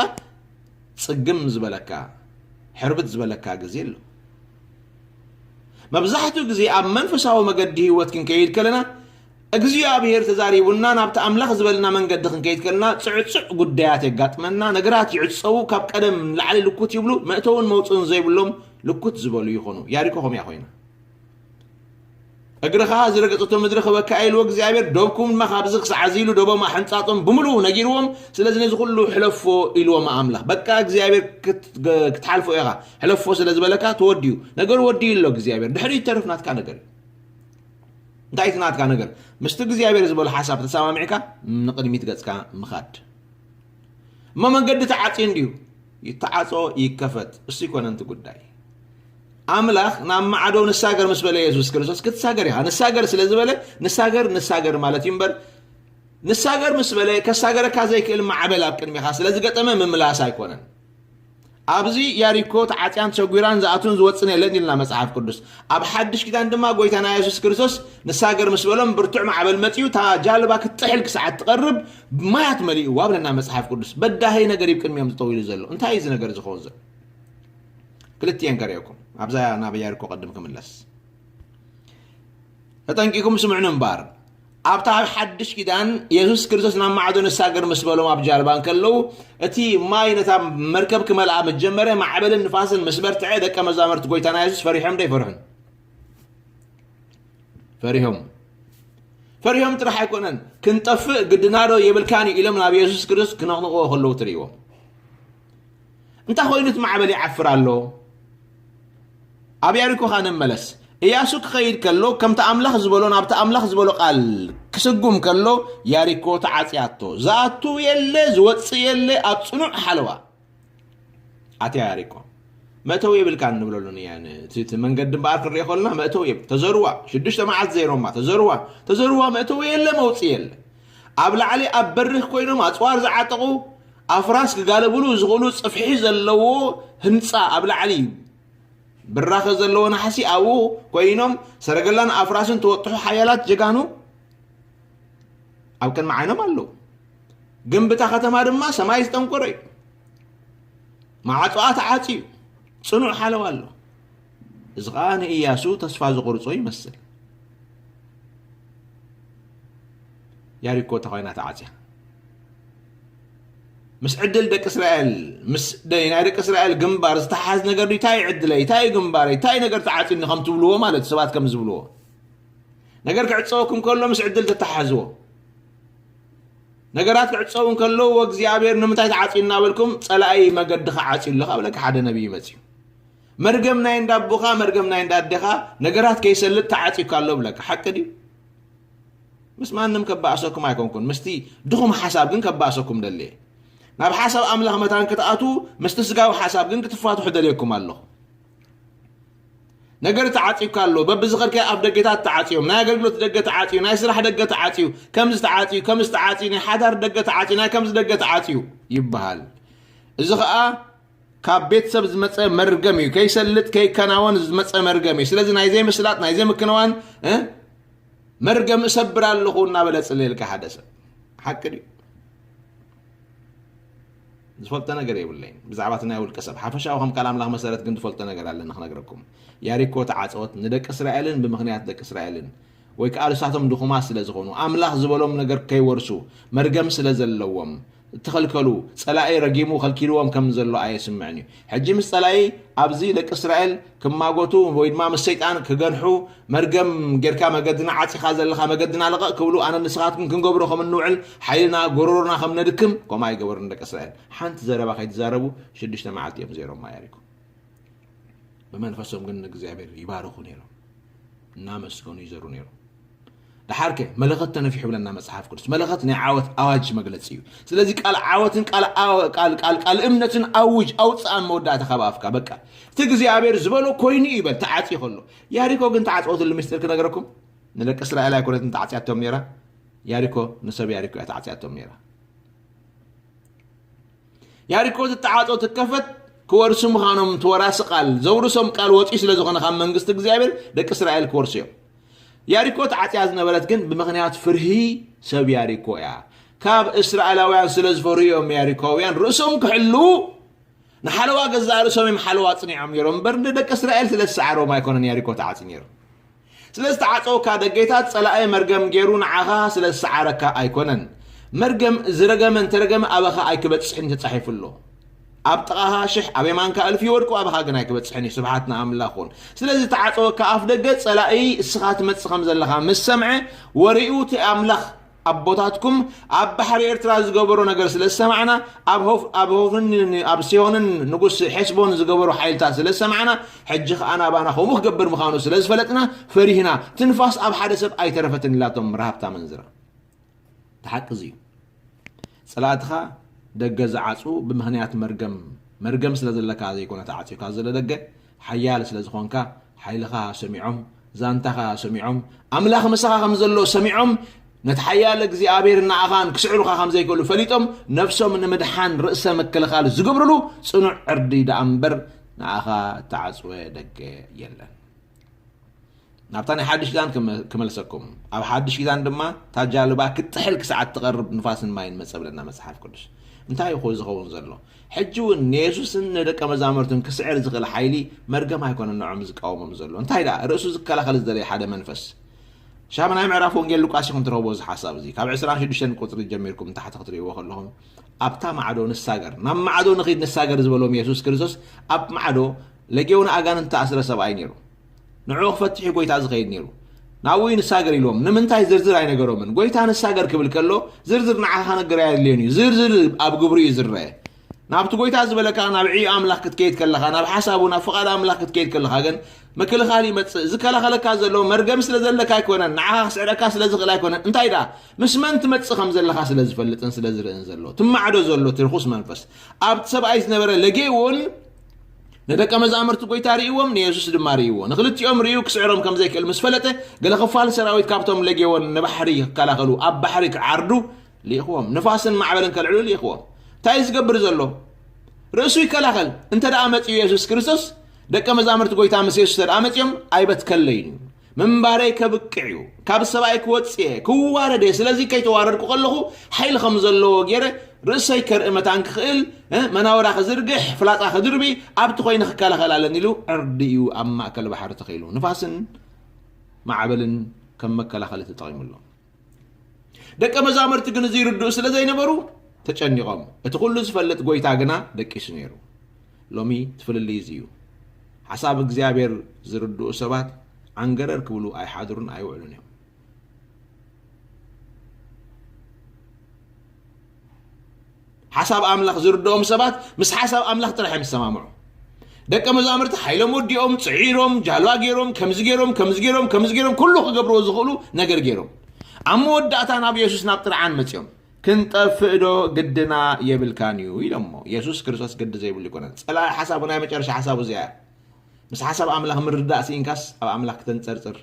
ጽግም ዝበለካ ሕርብት ዝበለካ ግዜ ኣሎ መብዛሕትኡ ግዜ ኣብ መንፈሳዊ መገዲ ህይወት ክንከይድ ከለና እግዚኣብሔር ተዛሪቡና ናብቲ ኣምላኽ ዝበለና መንገዲ ክንከይድ ከለና ጽዕጹዕ ጉዳያት የጋጥመና፣ ነገራት ይዕጸዉ፣ ካብ ቀደም ንላዕሊ ልኩት ይብሉ፣ መእተውን መውጽእን ዘይብሎም ልኩት ዝበሉ ይኾኑ። ያሪኮ ከምያ ኮይና። እግርኻ ዝረገጸቶ ምድሪ ክበካ ኢልዎ እግዚኣብሔር ዶብኩም ድማ ካብዚ ክሳዕ እዚ ኢሉ ዶቦም ኣሕንጻጾም ብምሉኡ ነጊርዎም ስለዚ ነዚ ኩሉ ሕለፎ ኢልዎም ኣምላኽ በቃ እግዚኣብሔር ክትሓልፎ ኢኻ ሕለፎ ስለ ዝበለካ ተወዲኡ ነገሩ ወዲኡ ኣሎ እግዚኣብሔር ድሕሪ ተርፍ ናትካ ነገር እዩ እንታይ እቲ ናትካ ነገር ምስቲ እግዚኣብሔር ዝበሎ ሓሳብ ተሰማሚዕካ ንቅድሚት ገጽካ ምኻድ እሞ መንገዲ ተዓጽዩ እንድዩ ይተዓጾ ይከፈት እሱ ይኮነን እቲ ጉዳይ ኣምላኽ ናብ ማዕዶ ንሳገር ምስ በለ የሱስ ክርስቶስ ክትሳገር ኢኻ ንሳገር ስለ ዝበለ ንሳገር ንሳገር ማለት እዩ እምበር ንሳገር ምስ በለ ከሳገረካ ዘይክእል ማዕበል ኣብ ቅድሚኻ ስለ ዝገጠመ ምምላስ ኣይኮነን ኣብዚ ያሪኮ ተዓጽያን ተሰጒራን ዝኣቱን ዝወጽን የለን ይልና መጽሓፍ ቅዱስ። ኣብ ሓድሽ ኪዳን ድማ ጎይታና የሱስ ክርስቶስ ንሳገር ምስ በሎም ብርቱዕ ማዕበል መጺኡ እታ ጃልባ ክትጥሕል ክሳዕ እትቐርብ ማያት መሊእዋ ብለና መጽሓፍ ቅዱስ። በዳሂ ነገር እዩ ቅድሚኦም ዝጠዊሉ ዘሎ። እንታይ እዩ እዚ ነገር ዝኸውን ዘሎ? ክልቲኤን ከርእየኩም ኣብዛ ናብ ያሪኮ ቅድም ክምለስ ተጠንቂኩም ስምዕኑ እምበር ኣብታ ኣብ ሓድሽ ኪዳን የሱስ ክርስቶስ ናብ ማዕዶ ንሳገር ምስ በሎም ኣብ ጃልባ እንከለዉ እቲ ማይ ነታ መርከብ ክመልኣ ምስ ጀመረ ማዕበልን ንፋስን ምስ በርትዐ ደቀ መዛሙርቲ ጎይታና የሱስ ፈሪሖም ዶ ኣይፈርሑን? ፈሪሆም ፈሪሆም ጥራሕ ኣይኮነን ክንጠፍእ ግድናዶ የብልካን ኢሎም ናብ የሱስ ክርስቶስ ክነቕንቕዎ ከለዉ ትርእይዎም እንታይ ኮይኑ እቲ ማዕበል ይዓፍር ኣሎ? ኣብ ያሪኮ ኸኣ ንመለስ። እያሱ ክኸይድ ከሎ ከምቲ ኣምላኽ ዝበሎ ናብቲ ኣምላኽ ዝበሎ ቃል ክስጉም ከሎ ያሪኮ ተዓጽያቶ። ዝኣቱ የለ ዝወጽእ የለ ኣብ ጽኑዕ ሓለዋ ኣትያ ያሪኮ። መእተዊ የብልካ ንብለሉ እቲ መንገዲ እምበኣር ክንሪኦ ከለና መእተዊ የብ ተዘርዋ ሽዱሽተ መዓልቲ ዘይሮማ ተዘርዋ ተዘርዋ መእተዊ የለ መውጽእ የለ ኣብ ላዕሊ ኣብ በሪኽ ኮይኖም ኣጽዋር ዝዓጠቑ ኣፍራስ ክጋለብሉ ዝኽእሉ ጽፍሒ ዘለዎ ህንጻ ኣብ ላዕሊ እዩ። ብራኸ ዘለዎ ናሕሲ ኣብኡ ኮይኖም ሰረገላን ኣፍራስን ተወጥሑ ሓያላት ጀጋኑ ኣብ ቅድሚ ዓይኖም ኣለዉ። ግንብታ ከተማ ድማ ሰማይ ዝጠንቆረ እዩ። መዓፅኣ ተዓፅዩ ፅኑዕ ሓለዋ ኣሎ። እዚ ኸኣ ንእያሱ ተስፋ ዘቑርጾ ይመስል። ያሪኮ እታ ኾይና ተዓጽያ ምስ ዕድል ደቂ እስራኤል ምስ ናይ ደቂ እስራኤል ግንባር ዝተሓዝ ነገር ድዩ እንታይ ዕድለይ እንታይ ግንባረይ እንታይ ነገር ተዓፂኒ ከም ትብልዎ ማለት ሰባት ከም ዝብልዎ ነገር ክዕፀወኩም ከሎ ምስ ዕድል ተተሓዝዎ ነገራት ክዕፀው እንከለዉ እግዚኣብሔር ንምንታይ ተዓፅዩ እናበልኩም ፀላኢ መገድኻ ዓፅዩ ኣለኻ ብለካ ሓደ ነቢይ መፅዩ መርገም ናይ እንዳ ኣቦኻ መርገም ናይ እንዳ ኣዴኻ ነገራት ከይሰልጥ ተዓጺካ ኣሎ ብለካ ሓቂ ድዩ ምስ ማንም ከባእሰኩም ኣይኮንኩን ምስቲ ድኹም ሓሳብ ግን ከባእሰኩም ደልየ ናብ ሓሳብ ኣምላኽ መታን ክትኣትዉ ምስቲ ስጋዊ ሓሳብ ግን ክትፋትሑ ደልየኩም ኣለኹ ነገር ተዓፂዩካ ኣሎ በብዝኸርከ ኣብ ደገታት ተዓፅዮም ናይ ኣገልግሎት ደገ ተዓፅዩ ናይ ስራሕ ደገ ተዓፅዩ ከምዚ ተዓፅዩ ከምዚ ተዓፅዩ ናይ ሓዳር ደገ ተዓፅዩ ናይ ከምዚ ደገ ተዓፅዩ ይበሃል እዚ ከዓ ካብ ቤተሰብ ዝመፀ መርገም እዩ ከይሰልጥ ከይከናወን ዝመፀ መርገም እዩ ስለዚ ናይ ዘይምስላጥ ናይ ዘይምክንዋን መርገም እሰብር ኣለኹ እናበለ ፅልልካ ሓደ ሰብ ሓቂ ድዩ ዝፈልጦ ነገር የብለይን ብዛዕባ እቲ ናይ ውልቀ ሰብ ሓፈሻዊ ከም ቃል ኣምላኽ መሰረት ግን ዝፈልጦ ነገር ኣለኒ ክነግረኩም ያሪኮ ተዓፀወት ንደቂ እስራኤልን ብምክንያት ደቂ እስራኤልን ወይ ከኣ ንሳቶም ድኹማት ስለ ዝኾኑ፣ ኣምላኽ ዝበሎም ነገር ከይወርሱ መርገም ስለ ዘለዎም፣ እተኸልከሉ፣ ጸላኢ ረጊሙ ከልኪልዎም ከም ዘሎ ኣየስምዕን እዩ። ሕጂ ምስ ጸላኢ ኣብዚ ደቂ እስራኤል ክማጎቱ ወይ ድማ ምስ ሰይጣን ክገንሑ መርገም ጌርካ መገድና ዓጺኻ ዘለኻ መገድና ልቐቕ ክብሉ ኣነ ንስኻትኩም ክንገብሮ ከም እንውዕል ሓይልና ጎሮሮና ከም ነድክም ከምኡ ኣይገበሩን ደቂ እስራኤል ሓንቲ ዘረባ ከይትዛረቡ ሽዱሽተ መዓልቲ እዮም ዘይሮማ የሪኩ ብመንፈሶም ግን ንእግዚኣብሔር ይባርኹ ነይሮም እናመስገኑ ይዘሩ ነይሮም ድሓር ከ መለኸት ተነፊሑ ብለና መፅሓፍ ቅዱስ መለኸት ናይ ዓወት ኣዋጅ መግለፂ እዩ ስለዚ ቃል ዓወትን ቃል እምነትን ኣውጅ ኣውፅኣን መወዳእታ ካብ ኣፍካ በቃ እቲ እግዚኣብሔር ዝበሎ ኮይኑ እዩ በል ተዓፂ ከሎ ያሪኮ ግን ተዓፅወትሉ ምስጢር ክነገረኩም ንደቂ እስራኤል ኣይኮነትን ተዓፅያቶም ነይራ ያሪኮ ንሰብ ያሪኮ እያ ተዓፅያቶም ነይራ ያሪኮ ዝጠዓጾ ትከፈት ክወርሱ ምዃኖም ተወራሲ ቃል ዘውርሶም ቃል ወፂኡ ስለ ዝኾነ ካብ መንግስቲ እግዚኣብሔር ደቂ እስራኤል ክወርሱ እዮም ያሪኮ ተዓፅያ ዝነበረት ግን ብምክንያት ፍርሂ ሰብ ያሪኮ እያ ካብ እስራኤላውያን ስለ ዝፈርሁ እዮም ያሪኮውያን ርእሶም ክሕልው ንሓለዋ ገዛእ ርእሶም እዮም ሓለዋ ፅኒዖም ነይሮም እምበር ንደቂ እስራኤል ስለ ዝሰዓሮም ኣይኮነን ያሪኮ ተዓፂ ነይሩ ስለ ዝተዓጸወካ ደጌታት ጸላኢ መርገም ጌሩ ንዓኻ ስለ ዝሰዓረካ ኣይኮነን። መርገም ዝረገመ እንተረገመ ኣባኻ ኣይክበጽሕን እዩ ተጻሒፉ ኣሎ። ኣብ ጥቓኻ ሽሕ ኣብ የማንካ እልፊ ይወድቁ ኣባኻ ግን ኣይክበጽሕን እዩ ስብሓት ንኣምላኽ ኹን። ስለዚ ዝተዓጸወካ ኣፍደገ ጸላኢ እስኻ ትመጽእ ከም ዘለኻ ምስ ሰምዐ ወሬኡ እቲ ኣምላኽ ኣቦታትኩም ኣብ ባሕሪ ኤርትራ ዝገበሮ ነገር ስለ ዝሰማዕና ኣብ ሆፍርን ኣብ ሲሆንን ንጉስ ሐስቦን ዝገበሮ ሓይልታት ስለ ዝሰማዕና ሕጂ ከኣ ናባና ከምኡ ክገብር ምዃኑ ስለ ዝፈለጥና ፈሪህና ትንፋስ ኣብ ሓደ ሰብ ኣይተረፈትን ኢላቶም ረሃብታ መንዝራ እቲ ሓቂ እዚ እዩ ጸላእትኻ ደገ ዝዓጹ ብምክንያት መርገም መርገም ስለ ዘለካ ዘይኮነ ተዓጽዩካ ዘሎ ደገ ሓያል ስለ ዝኾንካ ሓይልኻ ሰሚዖም ዛንታኻ ሰሚዖም ኣምላኽ ምሳኻ ከም ዘሎ ሰሚዖም ነቲ ሓያል እግዚኣብሔር ንኣኻን ክስዕሩኻ ከም ዘይክእሉ ፈሊጦም ነፍሶም ንምድሓን ርእሰ ምክልኻል ዝገብርሉ ጽኑዕ ዕርዲ ደኣ እምበር ንኣኻ እተዓጽወ ደገ የለን ናብታ ናይ ሓድሽ ኪዳን ክመልሰኩም ኣብ ሓድሽ ኪዳን ድማ እታ ጃልባ ክትጥሕል ክሳዕ እትቐርብ ንፋስን ማይን መጸ ብለና መጽሓፍ ቅዱስ እንታይ እዩ ኮ ዝኸውን ዘሎ ሕጂ እውን ንየሱስን ንደቀ መዛሙርትን ክስዕር ዝኽእል ሓይሊ መርገም ኣይኮነን ንዖም ዝቃወሞም ዘሎ እንታይ ደኣ ርእሱ ዝከላኸል ዝደለየ ሓደ መንፈስ ሻምናይ ምዕራፍ ወንጌል ሉቃስ ይኹን ትረኽቦ እዚ ሓሳብ እዚ ካብ 26 ቁፅሪ ጀሚርኩም ንታሕቲ ክትርእይዎ ከለኹም ኣብታ ማዕዶ ንሳገር ናብ ማዕዶ ንኺድ ንሳገር ዝበሎም የሱስ ክርስቶስ ኣብ ማዕዶ ለጌውን ኣጋንንት ተኣስረ ሰብኣይ ነይሩ ንዕኡ ክፈትሕ እዩ ጎይታ ዝኸይድ ነይሩ። ናብኡ እዩ ንሳገር ኢልዎም። ንምንታይ ዝርዝር ኣይነገሮምን። ጎይታ ንሳገር ክብል ከሎ ዝርዝር ንዓኻ ከነግር ኣየድልዮን እዩ። ዝርዝር ኣብ ግብሩ እዩ ዝረአ። ናብቲ ጎይታ ዝበለካ ናብ ዕዮ ኣምላኽ ክትከይድ ከለኻ፣ ናብ ሓሳቡ ናብ ፍቓድ ኣምላኽ ክትከይድ ከለኻ ግን ምክልኻል ይመጽእ። ዝከላኸለካ ዘሎ መርገም ስለ ዘለካ ኣይኮነን፣ ንዓኻ ክስዕረካ ስለ ዝኽእል ኣይኮነን። እንታይ ደኣ ምስ መን ትመጽእ ከም ዘለኻ ስለ ዝፈልጥን ስለ ዝርእን ዘሎ ትማዕዶ ዘሎ እቲ ርኹስ መንፈስ ኣብቲ ሰብኣይ ዝነበረ ለጌ እውን ንደቀ መዛሙርቲ ጎይታ ርእይዎም ንየሱስ ድማ ርእይዎ ንክልቲኦም ርእዩ ክስዕሮም ከም ዘይክእል ምስ ፈለጠ ገለ ክፋል ሰራዊት ካብቶም ለጌዎን ንባሕሪ ክከላኸሉ ኣብ ባሕሪ ክዓርዱ ልኢኽዎም ንፋስን ማዕበልን ከልዕሉ ልኢኽዎም እንታይ እዩ ዝገብር ዘሎ ርእሱ ይከላኸል እንተ ደኣ መጺኡ የሱስ ክርስቶስ ደቀ መዛሙርቲ ጎይታ ምስ የሱስ ተደኣ መጺኦም ኣይበትከለይን እዩ ምንባረይ ከብቅዕ እዩ፣ ካብ ሰብኣይ ክወጽእ እየ፣ ክዋረድ እየ፣ ስለዚ ከይተዋረድኩ ከለኹ ሓይሊ ከም ዘለዎ ገይረ ርእሰይ ከርኢ መታን ክኽእል፣ መናውራ ክዝርግሕ፣ ፍላጻ ክድርቢ፣ ኣብቲ ኮይነ ክከላኸል ኣለኒ ኢሉ ዕርዲ እዩ ኣብ ማእከል ባሕሪ ተኺሉ። ንፋስን ማዕበልን ከም መከላኸሊ ተጠቒሙሉ። ደቀ መዛሙርቲ ግን እዚ ይርድኡ ስለ ዘይነበሩ ተጨኒቖም እቲ ኩሉ ዝፈልጥ ጎይታ ግና ደቂሱ ነይሩ ሎሚ ትፍልልይ እዚ እዩ ሓሳብ እግዚኣብሔር ዝርድኡ ሰባት ዓንገረር ክብሉ ኣይሓድሩን ኣይውዕሉን እዮም ሓሳብ ኣምላኽ ዝርድኦም ሰባት ምስ ሓሳብ ኣምላኽ ጥራሕ እዮም ዝሰማምዑ። ደቀ መዛሙርቲ ሓይሎም ወዲኦም ጽዒሮም ጃልባ ገይሮም ከምዚ ገይሮም ከምዚ ገይሮም ከምዚ ገይሮም ኩሉ ክገብርዎ ዝኽእሉ ነገር ገይሮም ኣብ መወዳእታ ናብ የሱስ ናብ ጥርዓን መጺኦም ክንጠፍእ ዶ ግድና የብልካን እዩ ኢሎሞ የሱስ ክርስቶስ ግዲ ዘይብሉ ይኮነን ጸላኢ ሓሳቡ ናይ መጨረሻ ሓሳቡ እዚኣ ምስ ሓሳብ ኣምላኽ ምርዳእ ስኢንካስ ኣብ ኣምላኽ ክተንጸርጽር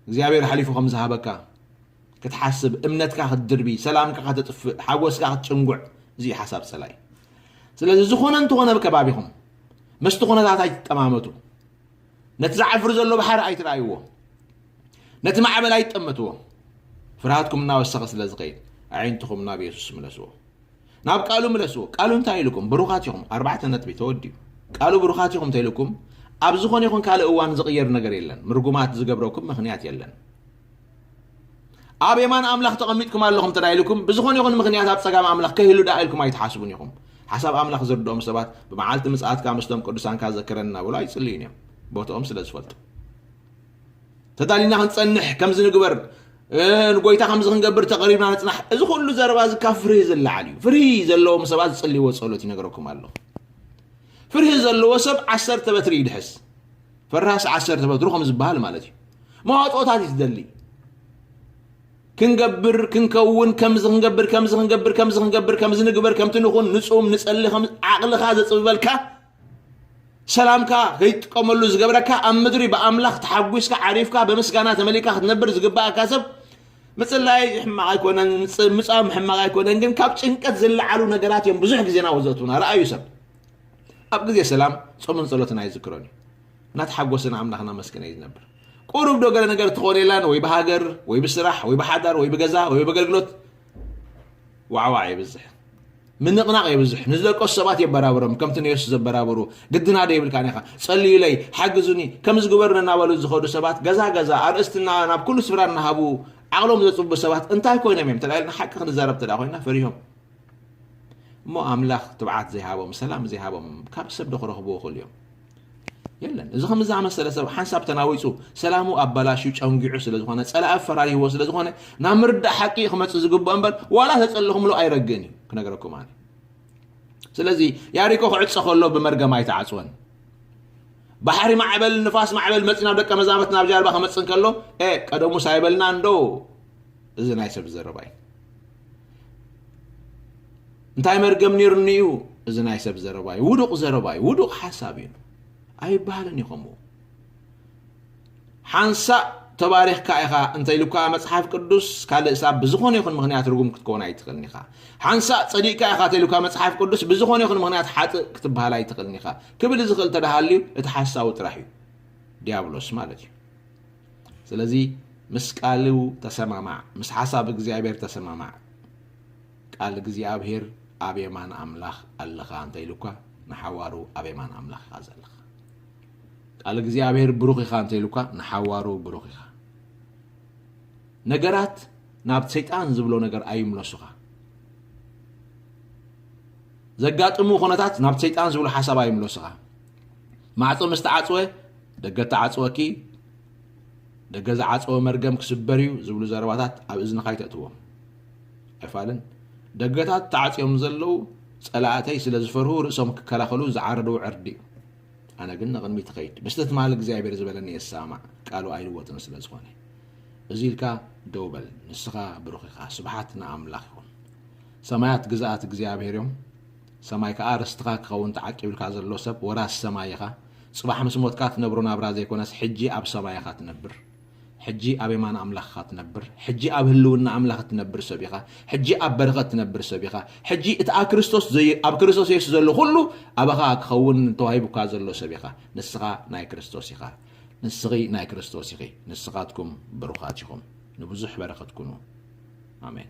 እግዚኣብሔር ሓሊፉ ከም ዝሃበካ ክትሓስብ እምነትካ ክትድርቢ ሰላምካ ከተጥፍእ ሓጎስካ ክትጭንጉዕ እዚ ሓሳብ ፀላኢ ስለዚ ዝኾነ እንተኾነ ኣብ ከባቢኹም መስቲ ኩነታት ኣይትጠማመቱ ነቲ ዝዓፍር ዘሎ ባሕሪ ኣይትረኣይዎ ነቲ ማዕበል ኣይትጠመትዎ ፍርሃትኩም እናወሰኸ ስለ ዝኸይድ ኣዒንትኹም ናብ የሱስ ምለስዎ ናብ ቃሉ ምለስዎ ቃሉ እንታይ ኢሉኩም ብሩኻት ኢኹም ኣርባዕተ ነጥቢ ተወዲኡ ቃሉ ብሩኻት ኢኹም እንተኢሉኩም ኣብ ዝኾነ ይኹን ካልእ እዋን ዝቕየር ነገር የለን ምርጉማት ዝገብረኩም ምኽንያት የለን ኣብ የማን ኣምላኽ ተቐሚጥኩም ኣለኹም እንተ ኢልኩም ብዝኾነ ይኹን ምኽንያት ኣብ ጸጋም ኣምላኽ ከህሉ ደኣ ኢልኩም ኣይትሓስቡን ኢኹም ሓሳብ ኣምላኽ ዝርድኦም ሰባት ብመዓልቲ ምጽኣትካ ምስቶም ቅዱሳንካ ዘክረና ብሎ ኣይጽልዩን እዮም ቦትኦም ስለ ዝፈልጡ ተዳሊና ክንጸንሕ ከምዚ ንግበር ንጎይታ ከምዚ ክንገብር ተቐሪብና ንጽናሕ እዚ ኩሉ ዘረባ እዚ ካብ ፍርሂ ዝለዓል እዩ ፍርሂ ዘለዎም ሰባት ዝጽልይዎ ጸሎት ይነገረኩም ኣለኹ ፍርሂ ዘለዎ ሰብ ዓሰርተ በትሪ ይድሕስ ፈራሲ ዓሰርተ በትሩ ከም ዝበሃል ማለት እዩ መዋፅኦታት እዩ ዝደሊ ክንገብር ክንከውን ከምዚ ክንገብር ከምዚ ክንገብር ከምዚ ክንገብር ከምዚ ንግበር ከምቲ ንኹን ንፁም ንፀሊ ዓቕልኻ ዘፅብበልካ ሰላም ከኣ ከይትጥቀመሉ ዝገብረካ ኣብ ምድሪ ብኣምላኽ ተሓጒስካ ዓሪፍካ ብምስጋና ተመሊእካ ክትነብር ዝግባእካ ሰብ ምጽላይ ሕማቕ ኣይኮነን ምጻም ሕማቕ ኣይኮነን ግን ካብ ጭንቀት ዝለዓሉ ነገራት እዮም ብዙሕ ግዜ ናብኡ ዘእትውና ረኣዩ ሰብ ኣብ ግዜ ሰላም ጾምን ጸሎትን ኣይዝክሮን እዩ እናተሓጎስና ኣምላኽና መስክነ እዩ ዝነብር ቁሩብ ዶ ገለ ነገር ትኾን የላን ወይ ብሃገር ወይ ብስራሕ ወይ ብሓዳር ወይ ብገዛ ወይ ብኣገልግሎት ዋዕዋዕ የብዝሕ ምንቕናቕ የብዝሕ ንዝደቀሱ ሰባት የበራብሮም ከምቲ ንየሱስ ዘበራብሩ ግድና ዶ ይብልካን ኢኻ ጸልዩለይ ሓግዙኒ ከም ዝግበሩ ነናበሉ ዝኸዱ ሰባት ገዛ ገዛ ኣርእስትና ናብ ኩሉ ስፍራ እናሃቡ ዓቕሎም ዘጽቡ ሰባት እንታይ ኮይኖም እዮም ተላኢልና ሓቂ ክንዛረብ ተዳ ኮይና ፈሪሆም እሞ ኣምላኽ ትብዓት ዘይሃቦም ሰላም ዘይሃቦም ካብ ሰብ ዶ ክረኽብዎ ክእሉ እዮም የለን። እዚ ከም ዝኣመሰለ ሰብ ሓንሳብ ተናዊፁ ሰላሙ ኣበላሽዩ ጨንጊዑ ስለ ዝኾነ ፀላኢ ኣፈራሪህዎ ስለ ዝኾነ ናብ ምርዳእ ሓቂ እዩ ክመፅእ ዝግብኦ እምበር ዋላ ተፀለኹምሉ ኣይረግእን እዩ ክነገረኩም ኣነ ስለዚ ያሪኮ ክዕፀ ከሎ ብመርገም ኣይተዓፅወን ባሕሪ ማዕበል ንፋስ ማዕበል መፂ ናብ ደቀ መዛመት ናብ ጃልባ ክመፅእ ከሎ ቀደሙ ሳይበልና እንዶ እዚ ናይ ሰብ ዘረባ እዩ። እንታይ መርገም ነይሩኒ እዩ እዚ ናይ ሰብ ዘረባ እዩ። ውዱቕ ዘረባ እዩ። ውዱቕ ሓሳብ እዩ። ኣይበሃልን እዩ ከምኡ ሓንሳእ ተባሪኽካ ኢኻ እንተኢሉካ መፅሓፍ ቅዱስ ካልእ ሳብ ብዝኾነ ይኹን ምክንያት ርጉም ክትከውን ኣይትኽእልን ኢኻ ሓንሳእ ፀዲቕካ ኢኻ ተኢሉካ መፅሓፍ ቅዱስ ብዝኾነ ይኹን ምክንያት ሓጥእ ክትበሃል ኣይትኽእልን ኢኻ ክብል ዝኽእል ተደሃልዩ እቲ ሓሳዊ ጥራሕ እዩ ዲያብሎስ ማለት እዩ ስለዚ ምስ ቃሉ ተሰማማዕ ምስ ሓሳብ እግዚኣብሔር ተሰማማዕ ቃል እግዚኣብሔር ኣብ የማን ኣምላኽ ኣለኻ እንተ ኢሉካ ንሓዋሩ ኣብ የማን ኣምላኽ ኢኻ ዘለኻ ቃል እግዚኣብሔር ብሩኽ ኢኻ እንተ ኢሉካ ንሓዋሩ ብሩኽ ኢኻ ነገራት ናብ ሰይጣን ዝብሎ ነገር ኣይምለሱኻ ዘጋጥሙ ኩነታት ናብ ሰይጣን ዝብሉ ሓሳብ ኣይምለሱኻ ማዕፆ ምስ ተዓፅወ ደገ ተዓፅወኪ ደገ ዝዓፀወ መርገም ክስበር እዩ ዝብሉ ዘረባታት ኣብ እዝንኻ ኣይተእትዎም ኣይፋልን ደገታት ተዓፅዮም ዘለዉ ፀላእተይ ስለ ዝፈርሁ ርእሶም ክከላኸሉ ዝዓረድዎ ዕርዲ እዩ ኣነ ግን ንቕድሚት ትኸይድ ምስቲ ትማል እግዚኣብሔር ዝበለኒ የሰማማዕ ቃሉ ኣይልወጥን ስለ ዝኾነ እዚ ኢልካ ደው በል ንስኻ ብሩኽ ኢኻ ስብሓት ንኣምላኽ ይኹን ሰማያት ግዛኣት እግዚኣብሔር እዮም ሰማይ ከኣ ርስትኻ ክኸውን ተዓቂብልካ ዘሎ ሰብ ወራስ ሰማይ ኢኻ። ጽባሕ ምስ ሞትካ ትነብሮ ናብራ ዘይኮነስ ሕጂ ኣብ ሰማይ ኢኻ ትነብር። ሕጂ ኣብ የማን ኣምላኽ ኢኻ ትነብር። ሕጂ ኣብ ህልውና ኣምላኽ እትነብር ሰብ ኢኻ። ሕጂ ኣብ በረኸት ትነብር ሰብ ኢኻ። ሕጂ እቲ ኣብ ክርስቶስ ዘይ ኣብ ክርስቶስ የሱስ ዘሎ ኩሉ ኣባኻ ክኸውን ተዋሂቡካ ዘሎ ሰብ ኢኻ። ንስኻ ናይ ክርስቶስ ኢኻ። ንስኺ ናይ ክርስቶስ ኢኺ። ንስኻትኩም ብሩኻት ኢኹም። ንብዙሕ በረኸት ኩኑ። ኣሜን።